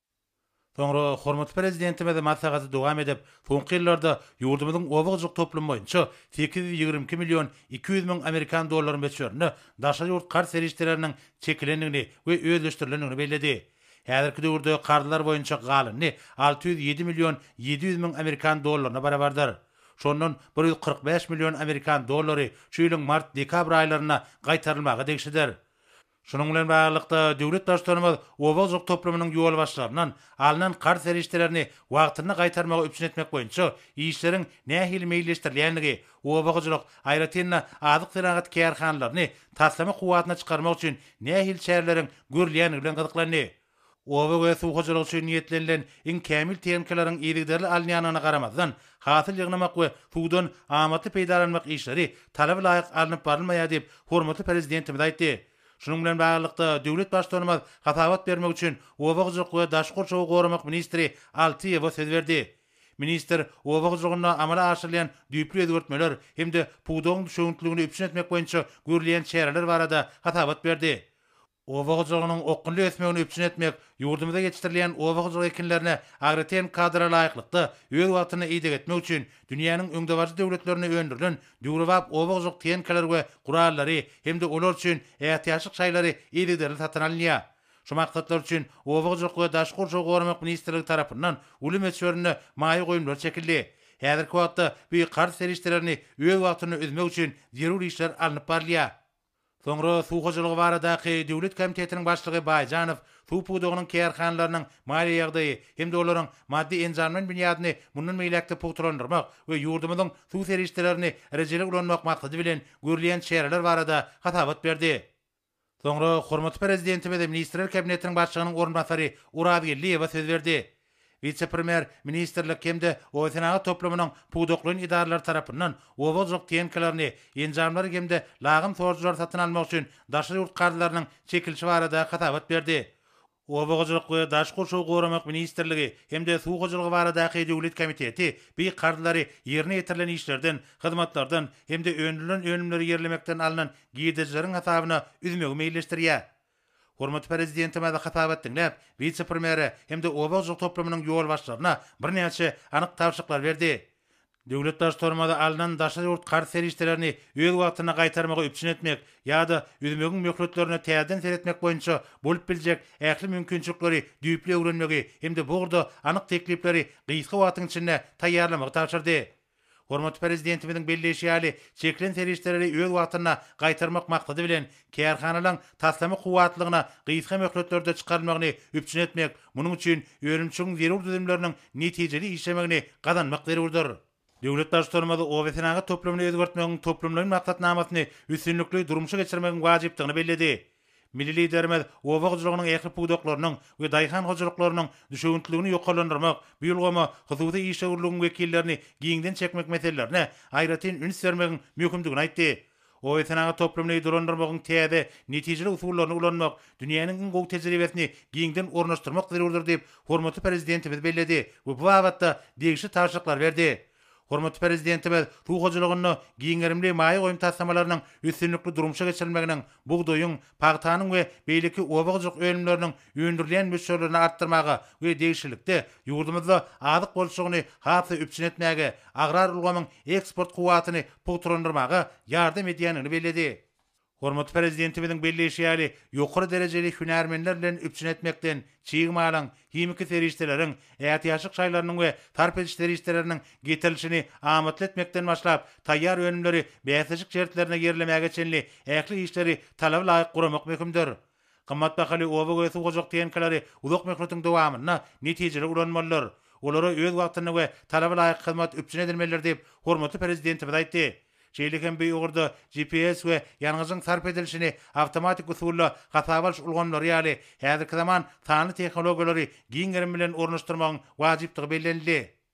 Soňra hormatly Prezidentimiz maslahaty dowam edip, soňky ýyllarda ýurdumyzyň oba-hojalyk toplumy boýunça sekiz ýüz ýigrimi iki million iki ýüz müň amerikan dollary möçberinde daşary ýurt karz serişdeleriniň çekilendigini we özleşdirilendigini belledi. Häzirki döwürde karzlar boýunça galyny alty ýüz ýedi million ýedi ýüz müň amerikan dollaryna barabardyr. Şondan bir ýüz kyrk bäş million amerikan dollary şu ýylyň mart-dekabr aýlarynda gaýtarylmaga degişlidir. Şunuň bilen baglylykda, döwlet Baştutanymyz oba-hojalyk toplumynyň ýolbaşçylaryndan alnan karz serişdelerini wagtynda gaýtarmagy üpjün etmek boýunça işleriň nähili meýilleşdirilýändigi, oba-hojalyk, aýratyn-da, azyk senagaty kärhanalaryny taslama kuwwatyna çykarmak üçin nähili çäreleriň görülýändigi bilen gyzyklandy. Oba we suw hojalygy üçin niýetlenilen iň kämil tehnikalaryň yzygiderli alynýandygyna garamazdan, hasyl ýygnamak we suwdan amatly peýdalanmak işleri talaba laýyk alnyp barylmaýar diýip, hormatly Prezidentimiz aýtdy. Şunuň bilen baglylykda, döwlet Baştutanymyz hasabat bermek üçin oba hojalyk we daşky gurşawy goramak ministri Altyýewa söz berdi. Ministr oba hojalygynda amala aşyrylýan düýpli özgertmeler hem-de pudagyň düşewüntliligini üpjün etmek boýunça görülýän çäreler barada hasabat berdi. Oba hojalygynyň okgunly ösmegini üpjün etmek, ýurdumyzda ýetişdirilýän oba hojalyk ekinlerine agroten kadra laýyklykda, öz wagtynda ideg etmek üçin dünýäniň öňdebaryjy döwletlerinde öndürilen döwrebap oba hojalyk tehnikalar we gurallary hem-de olar üçin ätiýaçlyk şaýlary yzygiderli satyn alynýar. Şu maksatlar üçin Oba hojalyk we daşky gurşawy goramak ministrligi tarapyndan uly möçberinde maýa goýumlar çekildi. Häzirki wagtda bu karz serişdelerini öz wagtynda üzmek üçin zerur işler alnyp barylýar. Soňra Suw hojalygy baradaky döwlet komitetiniň başlygy Baýjanow suw pudagynyň kärhanalarynyň maliýe ýagdaýy hem-de olaryň maddy-enjamlaýyn binýadyny mundan beýläk-de pugtalandyrmak we ýurdumyzyň suw serişdelerini rejeli ulanmak maksady bilen görülýän çäreler barada hasabat berdi. Soňra hormatly Prezidentimiz Ministrler Kabinetiniň Başlygynyň orunbasary Orazgeldiýewa söz berdi. Wise-premýer ministrlik hem-de obasenagat toplumynyň pudaklaýyn edaralary tarapyndan oba hojalyk tehnikalaryny, enjamlary hem-de lagym sorujylary satyn almak üçin daşary ýurt karzlarynyň çekilişi barada hasabat berdi. Oba hojalyk we daşky gurşawy goramak ministrligi hem-de Suw hojalygy baradaky döwlet komiteti bi karzlary ýerine ýetirilen işlerden, hyzmatlardan hem-de öndürilen önümleri ýerlemekden alnan girdejileriň hasabyna üzmegi meýilleşdirýär. Hormatly Prezidentimize hasabat diňläp, wise-premýere hem-de oba hojalyk toplumynyň ýolbaşçylaryna birnäçe anyk tabşyryklar berdi. Döwlet Baştutanymyza alnan daşary ýurt karz serişdelerini öz wagtynda gaýtarmagy üpjün etmek ýa-da üzmegiň möhletlerine täzeden seretmek boýunça bolup biljek ähli mümkinçilikleri düýpli öwrenmegi hem-de bu ugurda anyk teklipleri gysga wagtyň içinde taýýarlamagy tabşyrdy. Hormatly Prezidentimiziň belleýşi ýaly, çekilen serişdeleri öz wagtynda gaýtarmak maksady bilen, kärhanalaryň taslama kuwwatlygyna gysga möhletlerde çykarylmagyny üpjün etmek, munuň üçin önümçiligiň zerur düzümleriniň netijeli işlemegini gazanmak zerurdyr. Döwlet Baştutanymyz obasenagat toplumyny özgertmegiň toplumlaýyn maksatnamasyny üstünlikli durmuşa geçirmegiň wajypdygyny belledi. Milli Liderimiz oba hojalygynyň ähli pudaklarynyň we daýhan hojalyklarynyň düşewüntliligini ýokarlandyrmak, bu ulgama hususy işewürligiň wekillerini giňden çekmek meselelerine aýratyn üns bermegiň möhümdigini aýtdy. Obasenagat toplumyny dolandyrmagyň täze, netijeli usullaryny ulanmak, dünýäniň iň gowy tejribesini giňden ornaşdyrmak zerurdyr diýip, hormatly Prezidentimiz belledi we bu babatda degişli tabşyryklary berdi. Hormatly Prezidentimiz suw hojalygynda giň gerimli maýa goýum taslamalarynyň üstünlikli durmuşa geçirilmeginiň bugdaýyň, pagtanyň we beýleki oba hojalyk önümleriniň öndürilýän möçberlerini artdyrmaga we degişlilikde, ýurdumyzda azyk bolçulygyny has-da üpjün etmäge, agrar ulgamyň eksport kuwwatyny pugtalandyrmaga ýardam edýändigini belledi. Hormatly Prezidentimiziň belleýşi ýaly, ýokary derejeli hünärmenler bilen üpjün etmekden, çig malyň, himiki serişdeleriň, ätiýaçlyk şaýlarynyň we sarp ediş serişdeleriniň getirilişini amatly etmekden başlap, taýýar önümleri bäsleşik şertlerinde ýerlemäge çenli ähli işleri talaba laýyk guramak möhümdir. Gymmat bahaly oba we suw gurjak tenkalary uzak möhletiň dowamynda netijeli ulanmalydyr. Olara öz wagtynda we talaba laýyk hyzmat üpjün edilmelidir diýip, hormatly Prezidentimiz aýtdy. Şeýle hem bu ugurda GPS we ýangyjyň sarp edilişini awtomatik usulda hasaba alyş ulgamlary ýaly häzirki zaman sanly tehnologiýalary giň gerim bilen ornaşdyrmagyň wajypdygy bellenildi.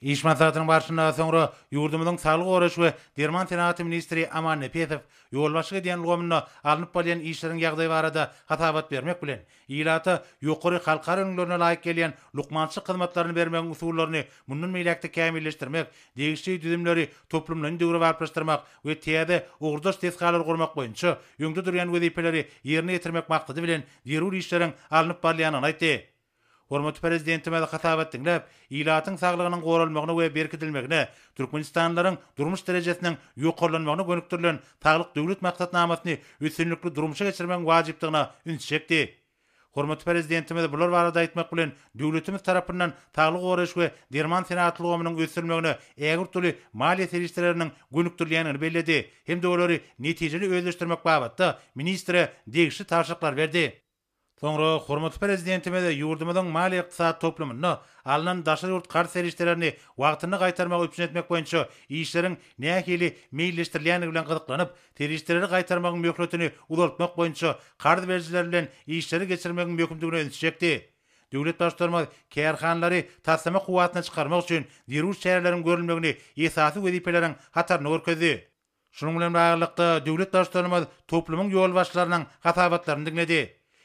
Iş maslahatynyň barşynda soňra ýurdumyzyň Saglygy goraýyş we derman senagaty ministri Aman Nepesow ýolbaşçyk edýän ulgamynda alnyp barylýan işleriň ýagdaýy barada hasabat bermek bilen, ilata ýokary halkara ülňülerine laýyk gelýän lukmançylyk hyzmatlaryny bermegiň usullaryny mundan beýläk-de kämilleşdirmek, degişli düzümleri toplumlaýyn döwrebaplaşdyrmak we täze ugurdaş desgalary gurmak boýunça öňde durýan wezipeleri ýerine ýetirmek maksady bilen zerur işleriň alnyp barylýandygyny aýtdy. Hormatly Prezidentimiz hasabat diňläp, ilatyň saglygynyň goralmagyna we berkidilmegine, türkmenistanlylaryň durmuş derejesiniň ýokarlanmagyna gönükdirilen Saglyk Döwlet maksatnamasyny üstünlikli durmuşa geçirmegiň wajypdygyna üns çekdi. Hormatly Prezidentimiz bular barada aýtmak bilen, döwletimiz tarapyndan saglygy goraýyş we derman senagat ulgamynyň ösdürilmegine ägirt uly maliýe serişdeleriniň gönükdirilýändigini belledi hem-de olary netijeli özleşdirmek babatda ministre degişli tabşyryklary berdi. Soňra hormatly Prezidentimiz ýurdumyzyň maliýe-ykdysady toplumynda alnan daşary ýurt karz serişdelerini wagtynda gaýtarmagy üpjün etmek boýunça işleriň nähili meýilleşdirilýändigi bilen gyzyklanyp, serişdeleri gaýtarmagyň möhletini uzaltmak boýunça karz berijiler bilen işleri geçirmegiň möhümdigine ünsi çekdi. Döwlet Baştutanymyz kärhanalary taslama kuwwatyna çykarmak üçin zerur çäreleriň görülmegini esasy wezipeleriň hatarynda görkezdi. Şunuň bilen baglylykda, döwlet Baştutanymyz toplumyň ýolbaşçylarynyň hasabatlaryny diňledi.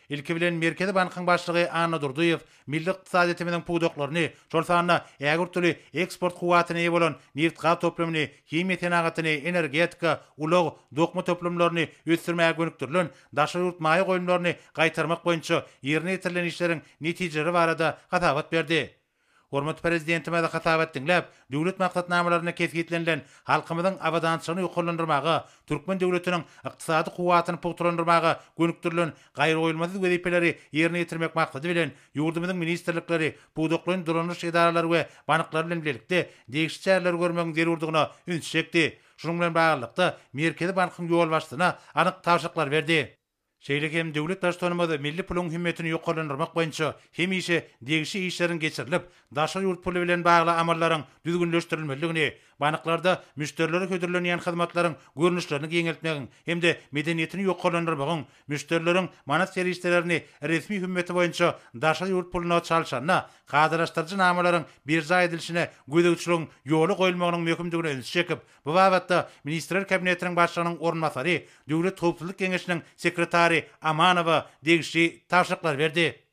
Ilki bilen, Merkezi bankyň başlygy Anna Durdyýew milli ykdysadyýetimiziň pudaklaryny, şol sanda ägirt uly eksport kuwwatyna eýe bolan nebit-gaz toplumyny, himiýa senagatyny, energetika, ulag, dokma toplumlaryny ösdürmäge gönükdirilen daşary ýurt maýa goýumlaryny gaýtarmak boýunça ýerine ýetirilen işleriň netijeleri barada hasabat berdi. Hormatly Prezidentimizi hasabat diňläp, döwlet maksatnamalarynda kesgitlenilen halkymyzyň abadançylygyny ýokarlandyrmaga, türkmen döwletiniň ykdysady kuwwatyny pugtalandyrmaga gönükdirilen gaýragoýulmasyz wezipeleri ýerine ýetirmek maksady bilen, ýurdumyzyň ministrlikleri, pudaklaýyn dolandyryş edaralary we banklary bilen bilelikde degişli çäreleri görmegiň zerurdygyna ünsi çekdi. Şunuň bilen baglylykda, Merkezi bankyň ýolbaşçysyna anyk tabşyryklary berdi. Şeýle hem Döwlet Baştutanymyz milli puluň hümmetini ýokarlandyrmak boýunça hemişe degişli işleriň geçirilip, daşary ýurt puly bilen bagly amallaryň düzgünleşdirilmelidigini, banklarda müşderilere hödürlenýän hyzmatlaryň görnüşlerini giňeltmegiň hem-de medeniýetini ýokarlandyrmagyň, müşderileriň manat serişdelerini resmi hümmeti boýunça daşary ýurt puluna çalşanda kadalaşdyryjy namalaryň berjaý edilişine gözegçiligiň ýola goýulmagynyň möhümdigine ünsi çekip, Bu babatda Ministrler Kabinetiniň Başlygynyň orunbasary Döwlet howpsuzlyk geňeşiniň sekretary Amanowa degişli tabşyryklary berdi.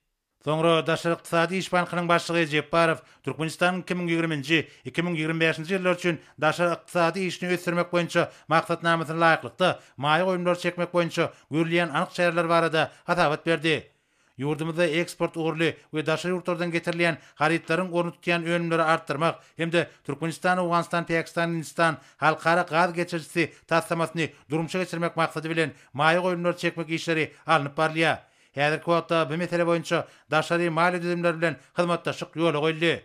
Soňra Daşary ykdysady iş bankynyň başlygy Jepbarow Türkmenistanyň iki müň ýigrimi nji, iki müň ýigrimi bäşinji ýyllar üçin daşary ykdysady işini ösdürmek boýunça maksatnamasyna laýyklykda maýa goýumlary çekmek boýunça görülýän anyk çäreler barada hasabat berdi. Ýurdumyzda eksport ugurly we daşary ýurtlardan getirilýän harytlaryň orny tutýan önümleri artdyrmak hem-de Türkmenistan-Owganystan-Päkistan-Hindistan halkara gaz geçirijisi taslamasyny durmuşa geçirmek maksady bilen maýa goýumlary çekmek işleri alnyp barylýar. Häzirki wagtda bu mesele boýunça daşary maliýe düzümleri bilen hyzmatdaşlyk ýola goýuldy.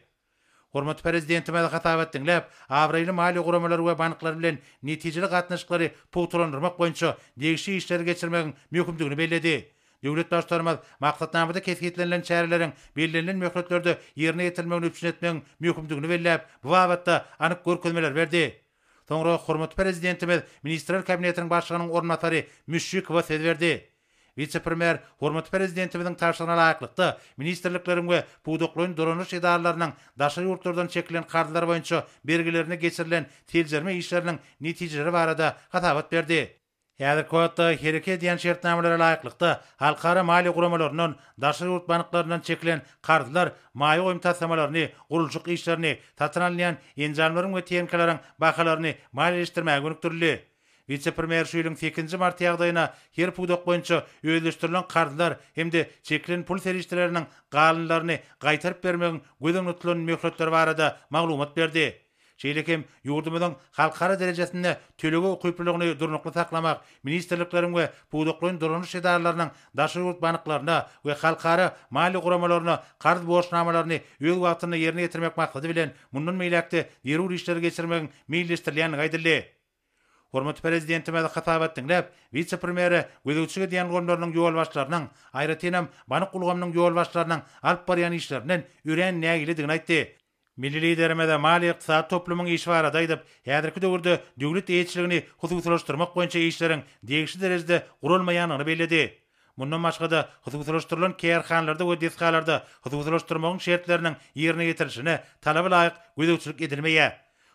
Hormatly Prezidentimize hasabat diňläp, abraýly maliýe guramalary we banklary bilen netijeli gatnaşyklary pugtalandyrmak boýunça degişli işleri geçirmegiň möhümdigini belledi. Döwlet Baştutanymyz maksatnamada kesgitlenilen çäreleriň bellenilen möhletlerde ýerine ýetirilmegini üpjün etmegiň möhümdigini belläp, bu babatda anyk görkezmeler berdi. Soňra hormatly Prezidentimiz Ministrler Kabinetiniň Başlygynyň orunbasary Müşşikowa söz berdi. Wise-premýer hormatly Prezidentimiziň tabşyrygyna laýyklykda, ministrlikleriň we pudaklaýyn dolanyş edaralarynyň daşary ýurtlardan çekilen karzlar boýunça bergilerine geçirilen seljerme işleriniň netijeleri barada hasabat berdi. Häzirki wagtda hereket edýän şertnamalara laýyklykda, halkara maliýe guramalaryndan, daşary ýurt banklaryndan çekilen karzlar maýa goýum taslamalaryny, gurluşyk işlerini, satyn alynýan enjamlaryň we tehnikalaryň bahalaryny maliýeleşdirmäge gönükdirildi. Wise-premýer şu ýylyň sekizinji marty ýagdaýyna her pudak boýunça özleşdirilen karzlar hem-de çekilen pul serişdeleriniň galynlaryny gaýtaryp bermegiň göz öňünde tutulan möhletleri barada maglumat berdi. Şeýle hem ýurdumyzyň halkara derejesinde tölege ukyplylygyny durnukly saklamak, ministrlikleriň we pudaklaýyn dolanyş edaralarynyň daşary ýurt banklaryna we halkara maliýe guramalaryna karz borçnamalaryny öz wagtynda ýerine ýetirmek maksady bilen mundan beýläk-de zerur işleri geçirmegiň meýilleşdirilýändigi aýdyldy. Hormatly Prezidentimiz hasabat diňläp, wise-premýere gözegçilik edýän ulgamlarynyň ýolbaşçylarynyň, aýratynam, bank ulgamynyň ýolbaşçylarynyň alyp barýan işlerinden örän nägiledigini aýtdy. Milli Liderimiz maliýe-ykdysady toplumyň işi barada aýdyp, häzirki döwürde döwlet eýeçiligini hususylaşdyrmak boýunça işleriň degişli derejede guralmaýandygyny belledi. Mundan başga-da, hususylaşdyrylan kärhanalarda we desgalarda hususylaşdyrmagyň şertleriniň ýerine ýetirilişine talaba laýyk gözegçilik edilmeýär.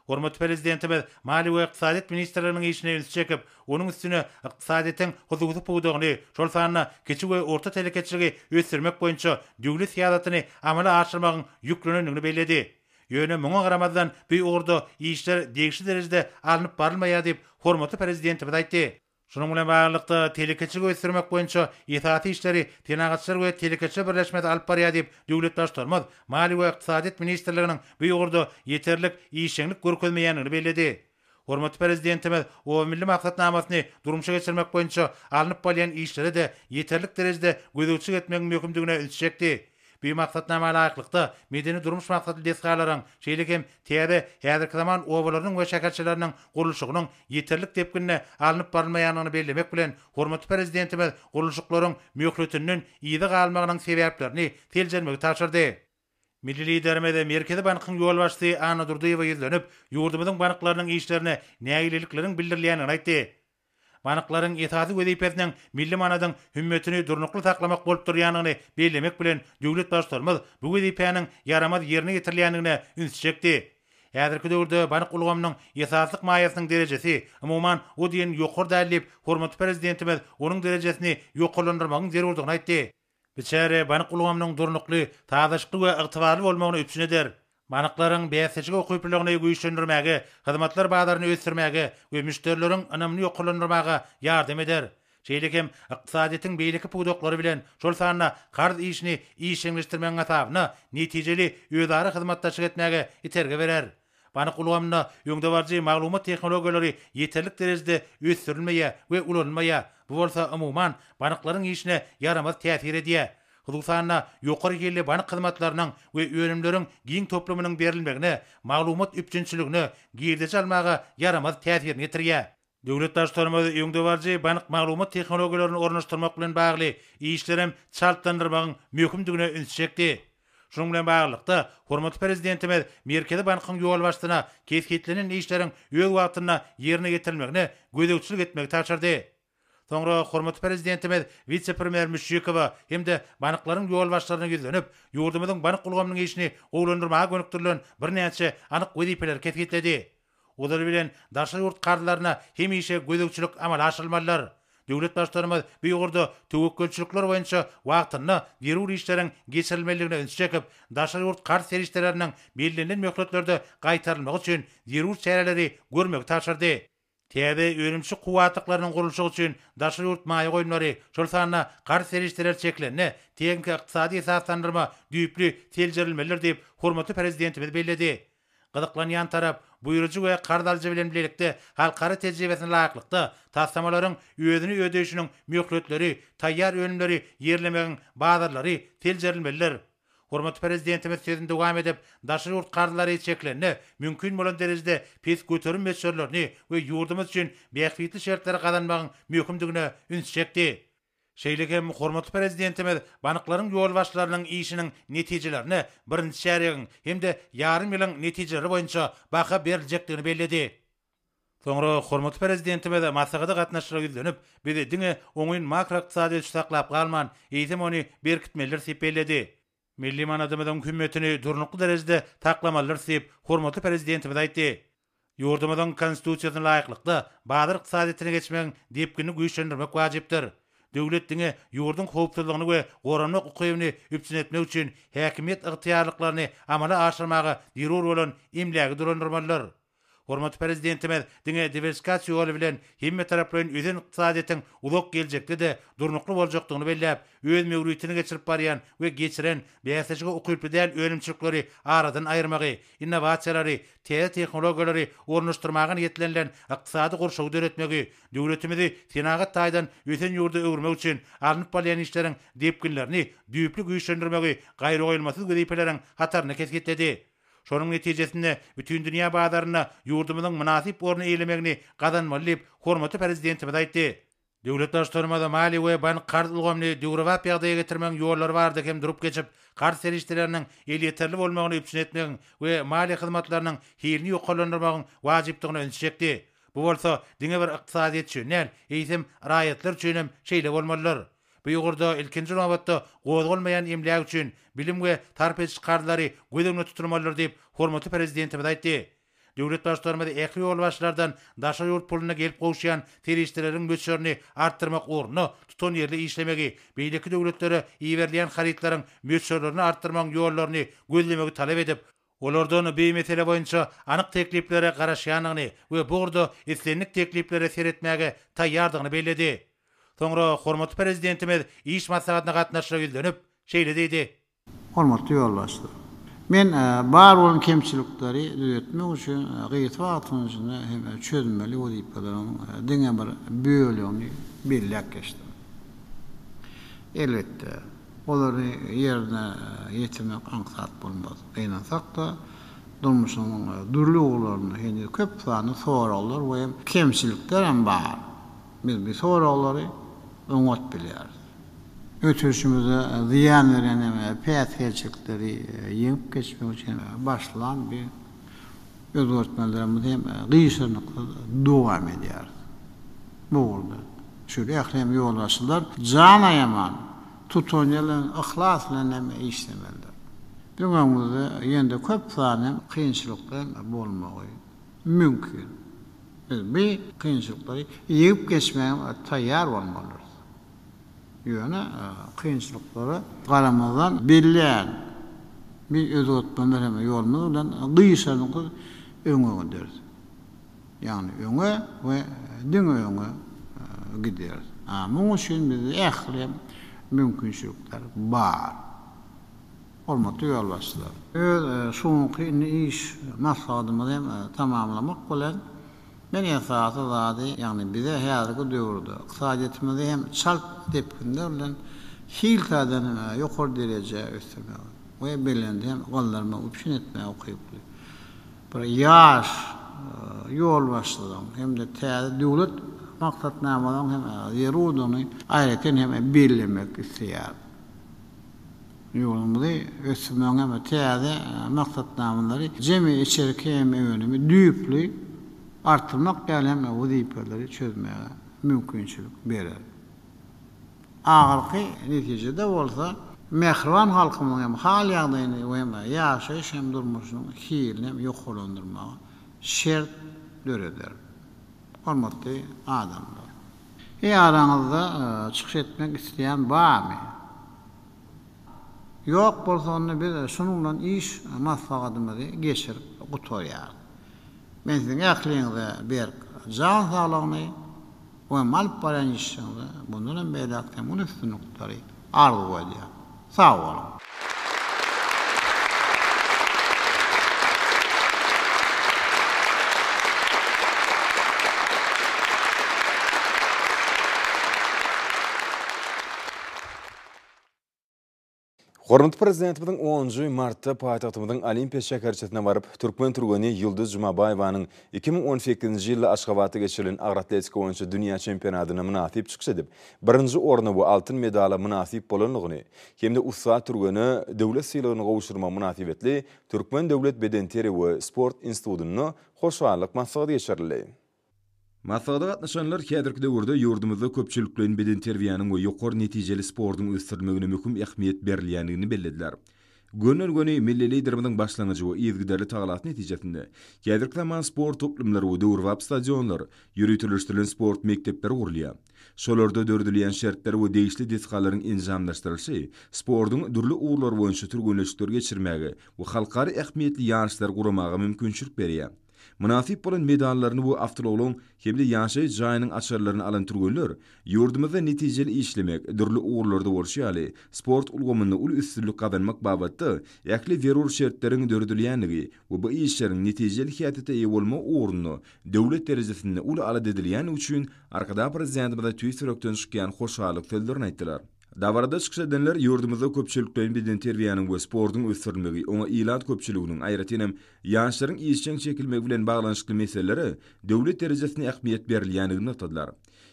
Hormatly Prezidentimiz Maliýe we ykdysadyýet ministrliginiň işine ünsi çekip, onuň üstüne ykdysadyýetiň hususy pudagyny, şol sanda kiçi we orta telekeçiligi ösdürmek boýunça döwlet syýasatyny amala aşyrmagyň ýüklenendigini belledi. Ýöne muňa garamazdan, bu ugurda işler degişli derejede alnyp barylmaýar diýip, hormatly Prezidentimiz aýtdy. Şunuň bilen baglylykda, telekeçiligi ösdürmek boýunça esasy işleri Senagatçylar we telekeçiler birleşmesi alyp barýar diýip, döwlet Baştutanymyz Maliýe we ykdysadyýet ministrliginiň bu ugurda ýeterlik işjeňlik görkezmeýändigini belledi. Hormatly Prezidentimiz Oba milli maksatnamasyny durmuşa geçirmek boýunça alnyp barylýan işlere-de ýeterlik derejede gözegçilik etmegiň möhümdigine ünsi çekdi. Bu maksatnama laýyklykda, medeni-durmuş maksatly desgalaryň, şeýle hem täze, häzirki zaman obalarynyň we şäherçeleriniň gurluşygynyň ýeterlik depginde alnyp barylmaýandygyny bellemek bilen, hormatly Prezidentimiz gurluşyklaryň möhletinden yza galmagynyň sebäplerini seljermegi tabşyrdy. Milli Liderimiz Merkezi bankyň ýolbaşçysy Anna Durdyýewa ýüzlenip, ýurdumyzyň banklarynyň işlerine nägilelikleriň bildirilýändigini aýtdy. Banklaryň esasy wezipesiniň milli manadyň hümmetini durnukly saklamak bolup durýandygyny bellemek bilen, döwlet Baştutanymyz bu wezipäniň ýaramaz ýerine ýetirilýändigine üns çekdi. Häzirki döwürde bank ulgamynyň esaslyk maýasynyň derejesi, umuman, o diýen ýokary däl diýip, hormatly Prezidentimiz onuň derejesini ýokarlandyrmagyň zerurdygyny aýtdy. Biçäre bank ulgamynyň durnukly, sazlaşykly we ygtybarly bolmagyny üpjün eder. Banklaryň bäsdeşik ukyplylygyny güýçlendirmäge, hyzmatlar bazaryny ösdürmäge we müşderileriň ynamyny ýokarlandyrmaga ýardam eder. Şeýle hem ykdysadyýetiň beýleki pudaklary bilen, şol sanda karz işini işjeňleşdirmegiň hasabyna netijeli özara hyzmatdaşlyk etmäge itergi berer. Bank ulgamynda öňdebaryjy maglumat tehnologiýalary ýeterlik derejede ösdürilmeýär we ulanylmaýar, bu bolsa, umuman, banklaryň işine ýaramaz täsir edýär. Hususan-da, ýokary hilli bank hyzmatlarynyň we önümleriň giň toplumynyň berilmegine, maglumat üpjünçiligine, girdeji almaga ýaramaz täsirini ýetirýär. Döwlet Baştutanymyz öňdebaryjy bank maglumat tehnologiýalaryny ornaşdyrmak bilen bagly işleri hem çaltlandyrmagyň möhümdigine ünsi çekdi. Şunuň bilen baglylykda, hormatly Prezidentimiz Merkezi bankyň ýolbaşçysyna kesgitlenen işleriň öz wagtynda ýerine ýetirilmegine gözegçilik etmegi tabşyrdy. Soňra hormatly Prezidentimiz wise-premýer Müşşikowa hem-de banklaryň ýolbaşçylaryna ýüzlenip, ýurdumyzyň bank ulgamynyň işini gowulandyrmaga gönükdirilen birnäçe anyk wezipeleri kesgitledi. Ozaly bilen daşary ýurt karzlaryna hemişe gözegçilik amala aşyrylmalydyr. Döwlet Baştutanymyz bu ugurda töwekgelçilikler boýunça wagtynda zerur işleriň geçirilmelidigine ünsi çekip, daşary ýurt karz serişdeleriniň bellenilen möhletlerde gaýtarylmagy üçin zerur çäreleri görmegi tabşyrdy. Täze önümçi kuwwatlyklarynyň gurluşygy üçin daşary ýurt maýa goýumlary, şol sanda karz serişdeleri çekilende, tehniki-ykdysady esaslandyrma düýpli seljerilmelidir diýip, hormatly Prezidentimiz belledi. Gyzyklanýan tarap, buýrujy we karz alyjy bilen bilelikde halkara tejribesine laýyklykda, taslamalaryň özüni ödeýşiniň möhletleri, taýýar önümleri ýerlemegiň bazarlary seljerilmelidir. Hormatly Prezidentimiz sözüni dowam edip, daşary ýurt karzlary çekilende, mümkin bolan derejede pes göterim möçberlerini we ýurdumyz üçin bähbitli şertleri gazanmagyň möhümdigine üns çekdi. Şeýle hem hormatly Prezidentimiz banklaryň ýolbaşçylarynyň işiniň netijelerine birinji çärýegiň hem-de ýarym ýylyň netijeleri boýunça baha beriljekdigini belledi. Soňra hormatly Prezidentimiz maslahata gatnaşyjylara ýüzlenip, Biz diňe oňyn makroykdysady ösüşi saklap galman, eýsem ony berkitmelidiris diýip belledi. Milli manadymyzyň hümmetini durnukly derejede saklamalydyrys diýip, hormatly Prezidentimiz aýtdy. Ýurdumyzyň Konstitusiýasyna laýyklykda, bazar ykdysadyýetine geçmegiň depginini güýçlendirmek wajypdyr. Döwlet diňe ýurduň howpsuzlygyny we goranmak ukybyny üpjün etmek üçin häkimiýet ygtyýarlyklaryny amala aşyrmaga zerur bolan emlägi dolandyrmalydyr. Hormatly Prezidentimiz diňe diwersifikasiýa ýoly bilen hemmetaraplaýyn ösen ykdysadyýetiň uzak geljekde-de durnukly boljakdygyny belläp, öz möwritini geçirip barýan we geçiren bäsleşige ukyply däl önümçilikleri aradan aýyrmagy, innowasiýalary, täze tehnologiýalary ornaşdyrmaga niýetlenilen ykdysady gurşawy döretmegi, döwletimizi senagat taýdan ösen ýurda öwürmek üçin alnyp barylýan işleriň depginlerini düýpli güýçlendirmegi gaýragoýulmasyz wezipeleriň hatarynda kesgitledi. Şonuň netijesinde bütindünýä bazarynda ýurdumyzyň mynasyp orny eýlemegini gazanmaly diýip, hormatly Prezidentimiz aýtdy. Döwlet Baştutanymyz maliýe we bank-karz ulgamyny döwrebap ýagdaýa getirmegiň ýollary barada hem durup geçip, karz serişdeleriniň elýeterli bolmagyny üpjün etmegiň we maliýe hyzmatlarynyň hilini ýokarlandyrmagyň wajypdygyna ünsi çekdi. Bu bolsa diňe bir ykdysadyýet üçin däl, eýsem, raýatlar üçin hem şeýle bolmalydyr. Bu ugurda, ilkinji nobatda, gozgalmaýan emläk üçin bilim we sarp ediş karzlary göz öňünde tutulmalydyr diýip, hormatly Prezidentimiz aýtdy. Döwlet Baştutanymyz ähli ýolbaşçylardan daşary ýurt puluna gelip gowuşýan serişdeleriň möçberini artdyrmak ugrunda tutanýerli işlemegi, beýleki döwletlere iberilýän harytlaryň möçberlerini artdyrmagyň ýollaryny gözlemegi talap edip, olardan bu mesele boýunça anyk tekliplere garaşýandygyny we bu ugurda islendik tekliplere seretmäge taýýardygyny belledi. Soňra hormatly Prezidentimiz iş maslahatyna gatnaşyja ýüzlenip, şeýle diýdi. Hormatly ýolbaşçy! Men bar bolan kemçilikleri düzetmek üçin gysga wagtyň içinde hem çözmeli wezipeleriň diňe bir bölegini belläp geçdim. Elbetde. Olary ýerine ýetirmek aňsat bolmaz. Gynansak-da, durmuşyň dürli ugurlarynda heniz köp sanly soraglar we kemçilikler hem bar. Biz bu soraglary oňat bilýäris. Ötüşimize zyýan berýän hem päsgelçilikleri ýeňip geçmek üçin başlan bu Özgertmelerimiz hem gyşarnyksyz dowam edýär. Bu ugurda şeýle ählem ýolbaşçylar jan aýaman, tutanýerden yhlas bilen hem işlemelidir. Biziň öňümizde ýene-de köp sany kynçylyklar bolmagy mümkin. Biz bu kynçylyklary ýeňip geçmäge taýýar bolmalydyrys. Ýöne kynçylyklara garamazdan belleýän bir özgertme merhemet ýolumyz bilen gyşadyňkyz öňe gideris. Ýagny öňe we diňe öňe gideris. A muň üçin bizde ähli hem mümkinçilikler bar. Hormatly ýolbaşçylar! Öz şu günki indi iş maslahatymyzy hem tamamlamak bilen, Men esasy zady, ýagny bize häzirki döwürde ykdysadyýetimizi hem çalt depginler bilen hil taýdan ýokary derejä ösdürmegi we belende hem galdyrmagy üpjün etmäge ukyply bir ýaş ýolbaşçylygyň hem-de täze döwlet maksatnamalaryň hem zerurdygyny aýratyn hem bellemek isleýärin. Ýurdumyzy ösdürmegiň hem-de täze maksatnamalary jemi içerki hem önümi düýpli artdyrmak ýaly hem wezipeleri çözmäge mümkinçilik berer. Ahyrky netijede bolsa, mähriban halkymyzyň hem hal-ýagdaýyny we hem ýaşaýyş hem durmuşynyň hilini hem ýokarlandyrmaga şert döreder. Hormatly adamlar! Eý araňyzda çykyş etmek isleýän barmy? Ýok bolsa onda biz şunuň bilen iş maslahatymyzy geçirip gutarýarys. Men siziň ähliňize berk jan saglygyny we alyp barýan işiňizde mundan hem beýläk hem uly üstünlikleri arzuw edýän. Sag boluň! Hormatly Prezidentimiziň onunjy martda paýtagtymyzyň Olimpiýa şäherçesine baryp, türkmen türgeni Ýulduz Jumabaýewanyň iki müň on sekizinji ýylda Aşgabatda geçirilen agroatletika boýunça dünýä çempionatyna mynasyp çykyş edip, birinji orna we altyn medala mynasyp bolandygyny hem-de ussat türgene döwlet sylagyny gowşurmagy mynasybetli Türkmen döwlet bedenterbiýe we sport institutynda hoşallyk maslahaty geçirildi. Maslahata gatnaşanlar häzirki döwürde ýurdumyzda köpçülikleýin bedenterbiýäniň we ýokary netijeli sportuň ösdürilmegine möhüm ähmiýet berilýändigini bellediler. Gönden-göni milli Liderimiziň başlangyjy we yzygiderli tagalasy netijesinde, häzirki zaman sport toplumlary we döwrebap stadionlar, ýöriteleşdirilen sport mekdepleri gurulýar. Şolarda döredilýän şertler we degişli desgalaryň enjamlaşdyrylyşy sportuň dürli ugurlary boýunça türgenleşikleri geçirmäge we halkara ähmiýetli ýaryşlary guramaga mümkinçilik berýär. Mynasyp bolan medallaryny we awtoulagyň hem-de ýaşaýyş jaýynyň açarlaryny alan türgenler ýurdumyzda netijeli işlemek, dürli ugurlarda bolşy ýaly, sport ulgamynda uly üstünlik gazanmak babatda ähli zerur şertleriň döredilýändigi we bu işleriň netijeli häsiýete eýe bolmagy ugrunda döwlet derejesinde uly alada edilýändigi üçin Arkadagprezidentimyza tüýs ýürekden çykýan hoşallyk sözlerini aýtdylar. Dabarada çykyş edenler ýurdumyzda köpçülikleýin bedenterbiýäniň we sportuň ösdürilmegi, oňa ilat köpçüliginiň, aýratyn hem, ýaşlaryň işjeň çekilmegi bilen baglanyşykly meselelere döwlet derejesinde ähmiýet berilýändigini nygtadylar.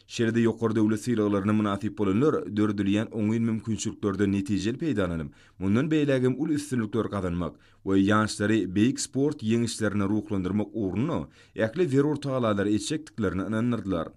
Şeýle-de ýokary döwlet sylaglaryna mynasyp bolanlar döredilýän oňyn mümkinçiliklerden netijeli peýdalanyp, mundan beýlägem uly üstünlikler gazanmak we ýaşlary beýik sport ýeňişlerine ruhlandyrmak ugrunda ähli zerur tagallalary etjekdiklerine ynandyrdylar.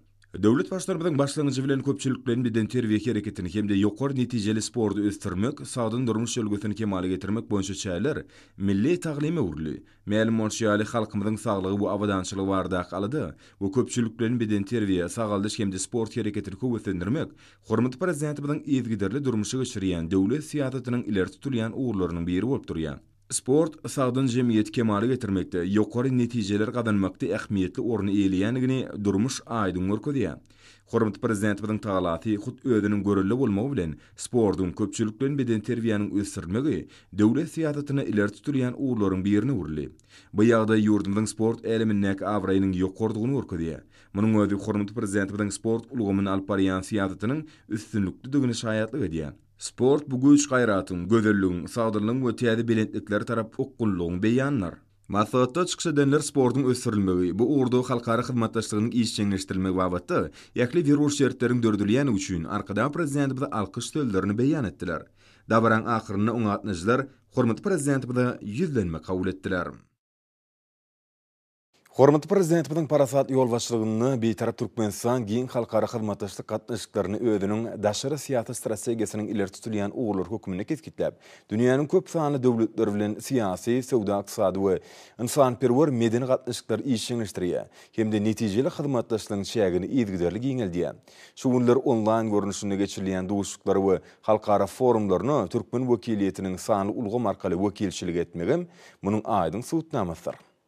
Döwlet Baştutanymyzyň başlangyjy bilen köpçülikleýin bedenterbiýe hereketini hem-de ýokary netijeli sporty ösdürmek, sagdyn durmuş ülňüsini kemala getirmek boýunça çäreler milli taglyma öwrüldi. Mälim bolşy ýaly, halkymyzyň saglygy we abadançylygy baradaky alada we köpçülikleýin bedenterbiýe, sagaldyş hem-de sport hereketini höweslendirmek hormatly Prezidentimiziň yzygiderli durmuşa geçirýän döwlet syýasatynyň ileri tutulýan ugurlarynyň biri bolup durýar. Sport, sagdyn jemgyýeti kemala getirmekde, ýokary netijeler gazanmakda ähmiýetli orny eýeleýändigini durmuş aýdyň görkezýär. Hormatly Prezidentimiziň talasy hut özüniň görelde bolmagy bilen, sportuň, köpçülik bilen bedenterbiýäniň ösdürilmegi döwlet syýasatynda ileri tutulýan ugurlaryň birine öwrüldi. Bu ýagdaý ýurdumyzyň sport älemindäki abraýynyň ýokarydygyny görkezýär. Munuň özi hormatly Prezidentimiziň sport ulgamynda alyp barýan syýasatynyň üstünliklidigine şaýatlyk edýär. Sport bu güýç-gaýratyň, gözelligiň, sagdynlygyň we täze belentliklere tarap okgunlygyň beýanydyr. Maslahatda çykyş edenler sportuň ösdürilmegi, bu ugurda halkara hyzmatdaşlygynyň işjeňleşdirilmegi babatda ähli zerur şertleriň döredilýändigi üçin Arkadag Prezidentimize alkyş sözlerini beýan etdiler. Dabaranyň ahyrynda oňa gatnaşyjylar hormatly Prezidentimize ýüzlenme kabul etdiler. Hormatly Prezidentimiziň parasatly ýolbaşçylygynda Bitarap Türkmenistan giň halkara hyzmatdaşlyk gatnaşyklaryny özüniň daşary syýasat strategiýasynyň ileri tutulýan ugurlary hökmünde kesgitläp, dünýäniň köp sanly döwletleri bilen syýasy, söwda-ykdysady we ynsanperwer medeni gatnaşyklary işjeňleşdirýär hem-de netijeli hyzmatdaşlygyň çägini yzygiderli giňeldýär. Şu günler onlaýn görnüşinde geçirilýän duşuşyklara we halkara forumlaryna türkmen wekiliýetiniň sanly ulgam arkaly wekilçilik etmegem munuň aýdyň subutnamasydyr.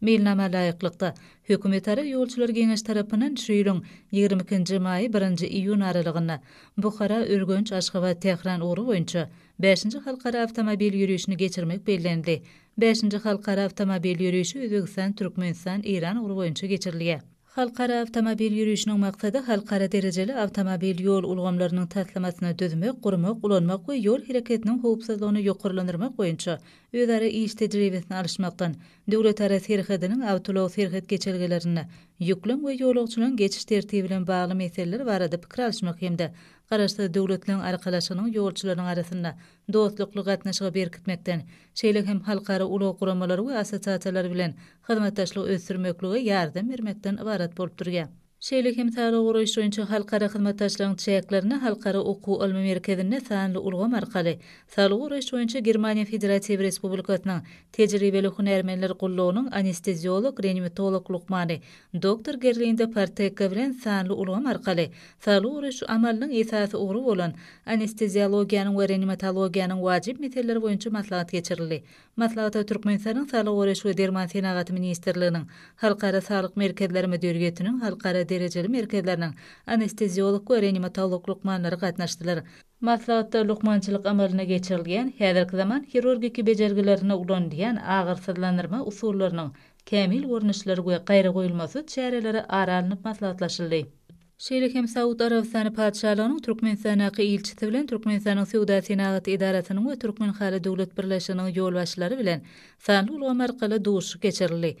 Meýilnama laýyklykda, Hökümetara ýolçular geňeşi tarapyndan şu ýylyň ýigrimi ikinji maý, birinji iýun aralygynda Buhara, Ürgenç, Aşgabat, Tähran ugry boýunça bäşinji halkara awtomobil ýörişini geçirmek bellenildi. Bäşinji halkara awtomobil ýörişi Özbegistan, Türkmenistan, Eýran ugry boýunça geçirilýär. Halkara awtomobil ýörişiniň maksady halkara derejeli awtomobil ýol ulgamlarynyň taslamasyny düzmek, gurmak, ulanmak we ýol hereketiniň howpsuzlygyny ýokarlandyrmak boýunça özara iş tejribesini alyşmakdan, Döwletara serhediniň awtoulag serhet geçelgelerinde ýüklüň we ýolagçylaryň geçiş tertibi bilen bagly meseleler barada pikir alyşmak hem-de Garaşsyz Döwletleriň Arkalaşygynyň ýolçularynyň arasynda dostlukly gatnaşygy berkitmekden, şeýle hem halkara ulag guramalary we assosiasiýalary bilen hyzmatdaşlygy ösdürmeklige ýardam bermekden ybarat bolup durýar. Şeýle hem saglygy goraýyş boýunça halkara hyzmatdaşlygyň çäklerinde Halkara okuw-ylmy merkezinde sanly ulgam arkaly Saglygy goraýyş boýunça Germaniýa Federatiw Respublikasynyň Tejribeli hünärmenler gullugynyň anesteziolog-reanimatolog lukmany doktor Gerlinda Partekka bilen sanly ulgam arkaly saglygy goraýyş amalynyň esasy ugry bolan anesteziologiýanyň we reanimatologiýanyň wajyp meseleleri boýunça maslahat geçirildi. Maslahata Türkmenistanyň Saglygy goraýyş we derman senagaty ministrliginiň, Halkara saglyk merkezleri müdiriýetiniň halkara derejeli merkezleriniň anesteziolog we reanimatolog lukmanlary gatnaşdylar. Maslahatda lukmançylyk amalyna geçirilýän häzirki zaman hirurgiki bejergilerinde ulanylýan agyrsyzlandyrma usullarynyň kämil görnüşleri we gaýragoýulmasyz çäreleri ara alnyp maslahatlaşyldy. şeýle hem Saud Arabystany Patyşalygynyň Türkmenistandaky ilçisi bilen Türkmenistanyň Söwda-senagat edarasynyň we Türkmenhaly döwlet birleşiginiň ýolbaşçylary bilen sanly ulgam arkaly duşuşyk geçirildi.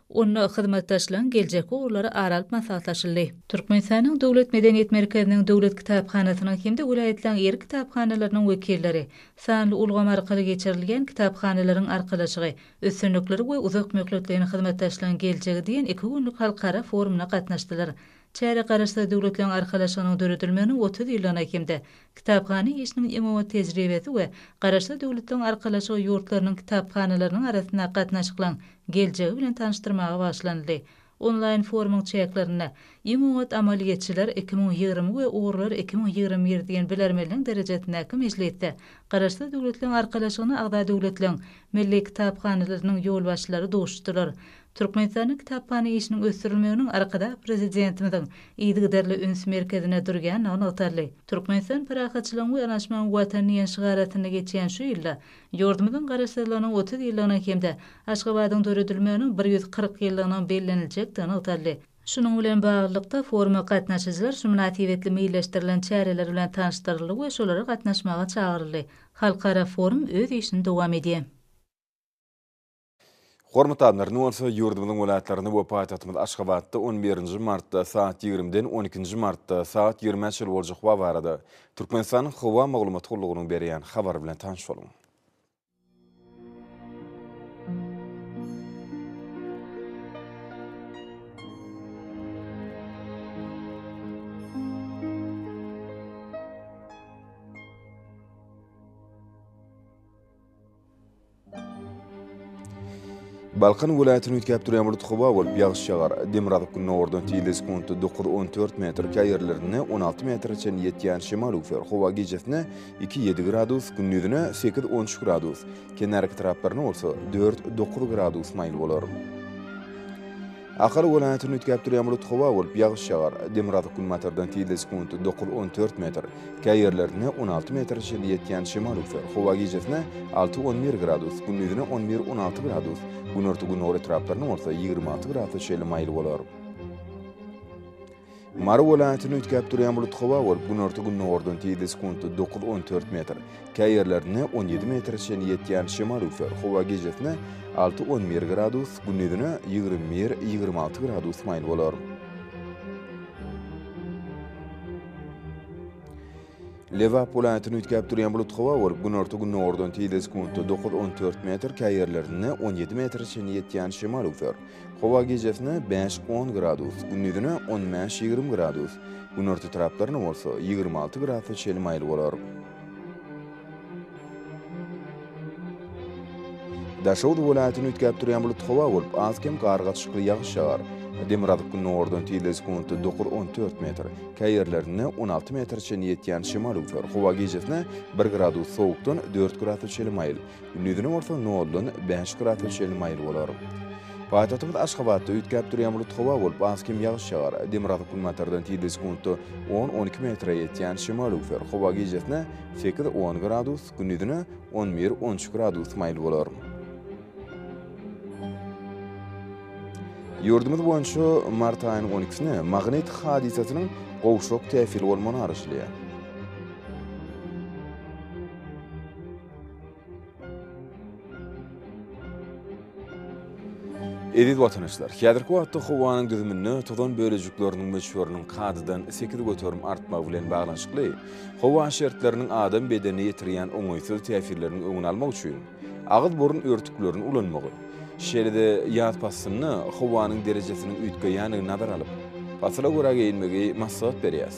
Onda hyzmatdaşlygyň geljekki ugurlary ara alyp maslahatlaşyldy. Türkmenistanyň Döwlet medeniýet merkeziniň Döwlet kitaphanasynyň hem-de welaýatlaryň ýerli kitaphanalarynyň wekilleri sanly ulgam arkaly geçirilýän Kitaphanalaryň arkalaşygy, üstünlikleri we uzak möhletleýin hyzmatdaşlygyň geljegi diýen iki günlük halkara forumyna gatnaşdylar. Çärä Garaşsyz Döwletleriň Arkalaşygynyň döredilmeginiň otuz ýyllygyna hem-de Kitaphana işiniň iň oňat tejribesi we Garaşsyz Döwletleriň Arkalaşygy ýurtlarynyň kitaphanalarynyň arasyndaky gatnaşyklaryň geljegi bilen tanyşdyrmaga bagyşlanyldy. Onlaýn forumyň çäklerinde Iň oňat amalyýetçiler iki müň ýigrimi we Ugurlar iki müň ýigrimi bir diýen bilermenligiň derejesindäki mejlisde Garaşsyz Döwletleriň Arkalaşygyna agza döwletleriň Milli kitaphanalarynyň ýolbaşçylary duşuşdylar. Türkmenistanda kitaphana işiniň ösdürilmeginiň Arkadag Prezidentimiziň yzygiderli üns merkezinde durýandygy nygtaldy. Türkmenistan parahatçylygyň we yanaşmagyň Watany diýen şygar astynda geçýän şu ýylda ýurdumyzyň Garaşsyzlygynyň otuz ýyllygynyň hem-de Aşgabadyň döredilmeginiň bir ýüz kyrk ýyllygynyň belleniljekdigi nygtaldy. Şunuň bilen baglylykda, foruma gatnaşyjylar şu mynasybetli meýilleşdirilen çäreler bilen tanyşdyryldy we şolara gatnaşmaga çagyryldy. Halkara forum öz işini dowam edýär. Hormatly adamlar, indi bolsa ýurdumyzyň welaýatlaryny we paýtagtymyz Aşgabatda on birinji martda saat ýigrimiden on ikinji martda saat ýigrimä çenli boljak howa barada Türkmenistanyň Howa maglumat gullugynyň berýän habary bilen tanyş boluň. Balkan welaýatyny üýtgäp durýan bulut howa bolup, ýagyş ýagar. Demirgazyk gündogardan tizligi sekuntda dokuz-on-dört metr, käý ýerlerinde on alty metre çenli ýetýän şemal üwser. Howa gijesine iki-ýedi gradus, gündizine sekiz-on üç gradus, kenarki taraplaryna bolsa dört-dokuz gradus maýyl bolar. Ahal welaýatyny üýtgäp durýan bulut howa bolup, ýagyş ýagar. Demirgazyk günbatardan tizligi sekundy dokuz-on dört metr, kä ýerlerinde on alty metre çenli ýetýän şemal üwser. Howa gijesine alty-on bir gradus, gündizine on bir-on alty gradus, günorta-gündogar etraplarynda bolsa ýigrimi alty gradsa çenli maýyl bolar. Mary welaýatyny üýtgäp durýan bulut howa bolup, günorta-gündogardan tizligi sekuntda dokuz-on dört metr, käý ýerlerinde on ýedi metre çenli ýetýän şemal üwser. Howa gijesine alty-on bir gradus, gündizine ýigrimi bir-ýigrimi alty gradus maýyl bolar. Lebap welaýatyny üýtgäp durýan bulut howa bolup, günorta-gündogardan tizligi sekuntda dokuz, on dört metr, käýerlerinde on ýedi metre çenli ýetýän şemal öwser. Howa gijesine bäş, on gradus, gündizine on bäş, ýigrimi gradus, günorta taraplarynda bolsa ýigrimi alty gradusa çenli maýyl bolar. Daşoguz welaýatyny üýtgäp durýan bulut howa bolup, az-kem gar gatyşykly ýagyş ýagar. Demirgazyk gündogardan tizligi sekuntda dokuz-on dört metr, käý ýerlerinde on alty metre çenli ýetýän şemal üwser. Howa gijesine bir gradus sowukdan dört grasa çenli maýyl, gündizine bolsa noldan bäş grasa çenli maýyl bolar. Paýtagtymyz Aşgabatda üýtgäp durýan bulut howa bolup, az-kem ýagyş ýagar. Demirgazyk-günbatardan tizligi sekuntda on-on iki metre ýetýän şemal üwser. Howa gijesine Sekiz, on gradus, gündizine on bir, on üç gradus maýyl bolar. Ýurdumyz boýunça mart aýynyň on ikisine magnit hadysasynyň gowşak täsiri bolmagyny garaşylýar. Eziz watandaşlar, häzirki wagtda howanyň düzüminde tozan bölejikleriniň möçberiniň kadadan sekiz göterim artmagy bilen baglanyşykly, howa şertleriniň adam bedenine ýetirýän oňaýsyz täsirleriniň öňüni almak üçin agyz-burun örtüklerini ulanmagy, şeýle-de ýaz paslynda howanyň derejesiniň üýtgeýändigini nazara alyp, pasyla görä geýinmegi maslahat berýäris.